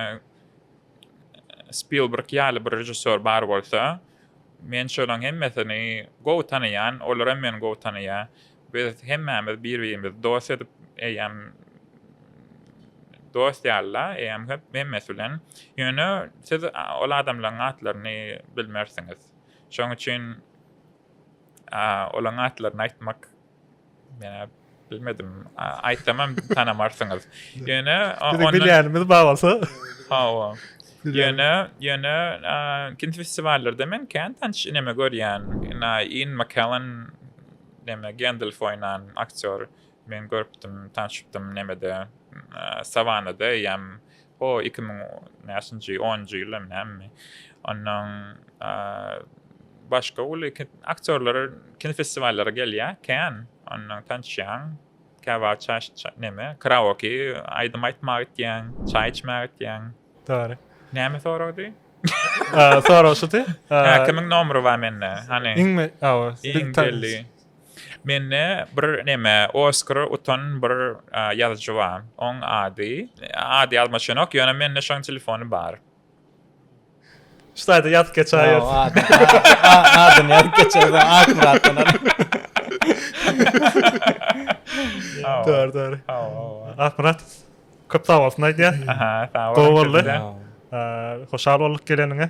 Speaker 2: Spilberg ýaly bir režissýor bar bolsa, men şolaň hemmesini gowy tanaýan, olaram meni gowy tanaýar. Biz hemmämiz bir-birimizi dost edip, eýýäm dost ýaly-la, eýýäm hep hemmesi bilen. Ýöne siz ol adamlaryň atlaryny bilmersiňiz. Şoň üçin olaň atlaryny aýtmak Menä bilmedim. Aýtsamam tanamarsyňyz. Ýöne Biziň bilýänimiz
Speaker 1: babasy. Hawa. Ýöne,
Speaker 2: ýöne kino festiwallerde men kän tanyş ineme görýän. Ina Ian McKellen näme Gandalf oýnan aktýor. Men görüpdim, tanşypdym nämede Savanada eýýäm O iki müň näçinji onunjy ýylda näme? Ondan başga uly aktýorlar kinofestiwallara gelýär, kän. Ondan tanşýaň, käwagt çaş näme, karaoke aýdym aýtmaga gitýäň, çaý içmäge gitýäň. Dogry.
Speaker 1: Näme soragdy?
Speaker 2: Sorag
Speaker 1: şudy. Hä, kimiň
Speaker 2: nomeri bar mende? Hany?
Speaker 1: Iň belli.
Speaker 2: Mende bir neme Oskar utan bir ýazyjy bar. Oň ady, ady ýadyma düşenok, ýöne mende şoň telefony bar. Şu taýda
Speaker 1: ýazyp geçäýersiň.
Speaker 3: Adyny ýazyp geçersiň Akmyratdan alyp.
Speaker 1: Dogry, dogry. Akmyrat, köp sag bolsun aýdýas. Gowy boldy. Hoşal bolduk geleniňe.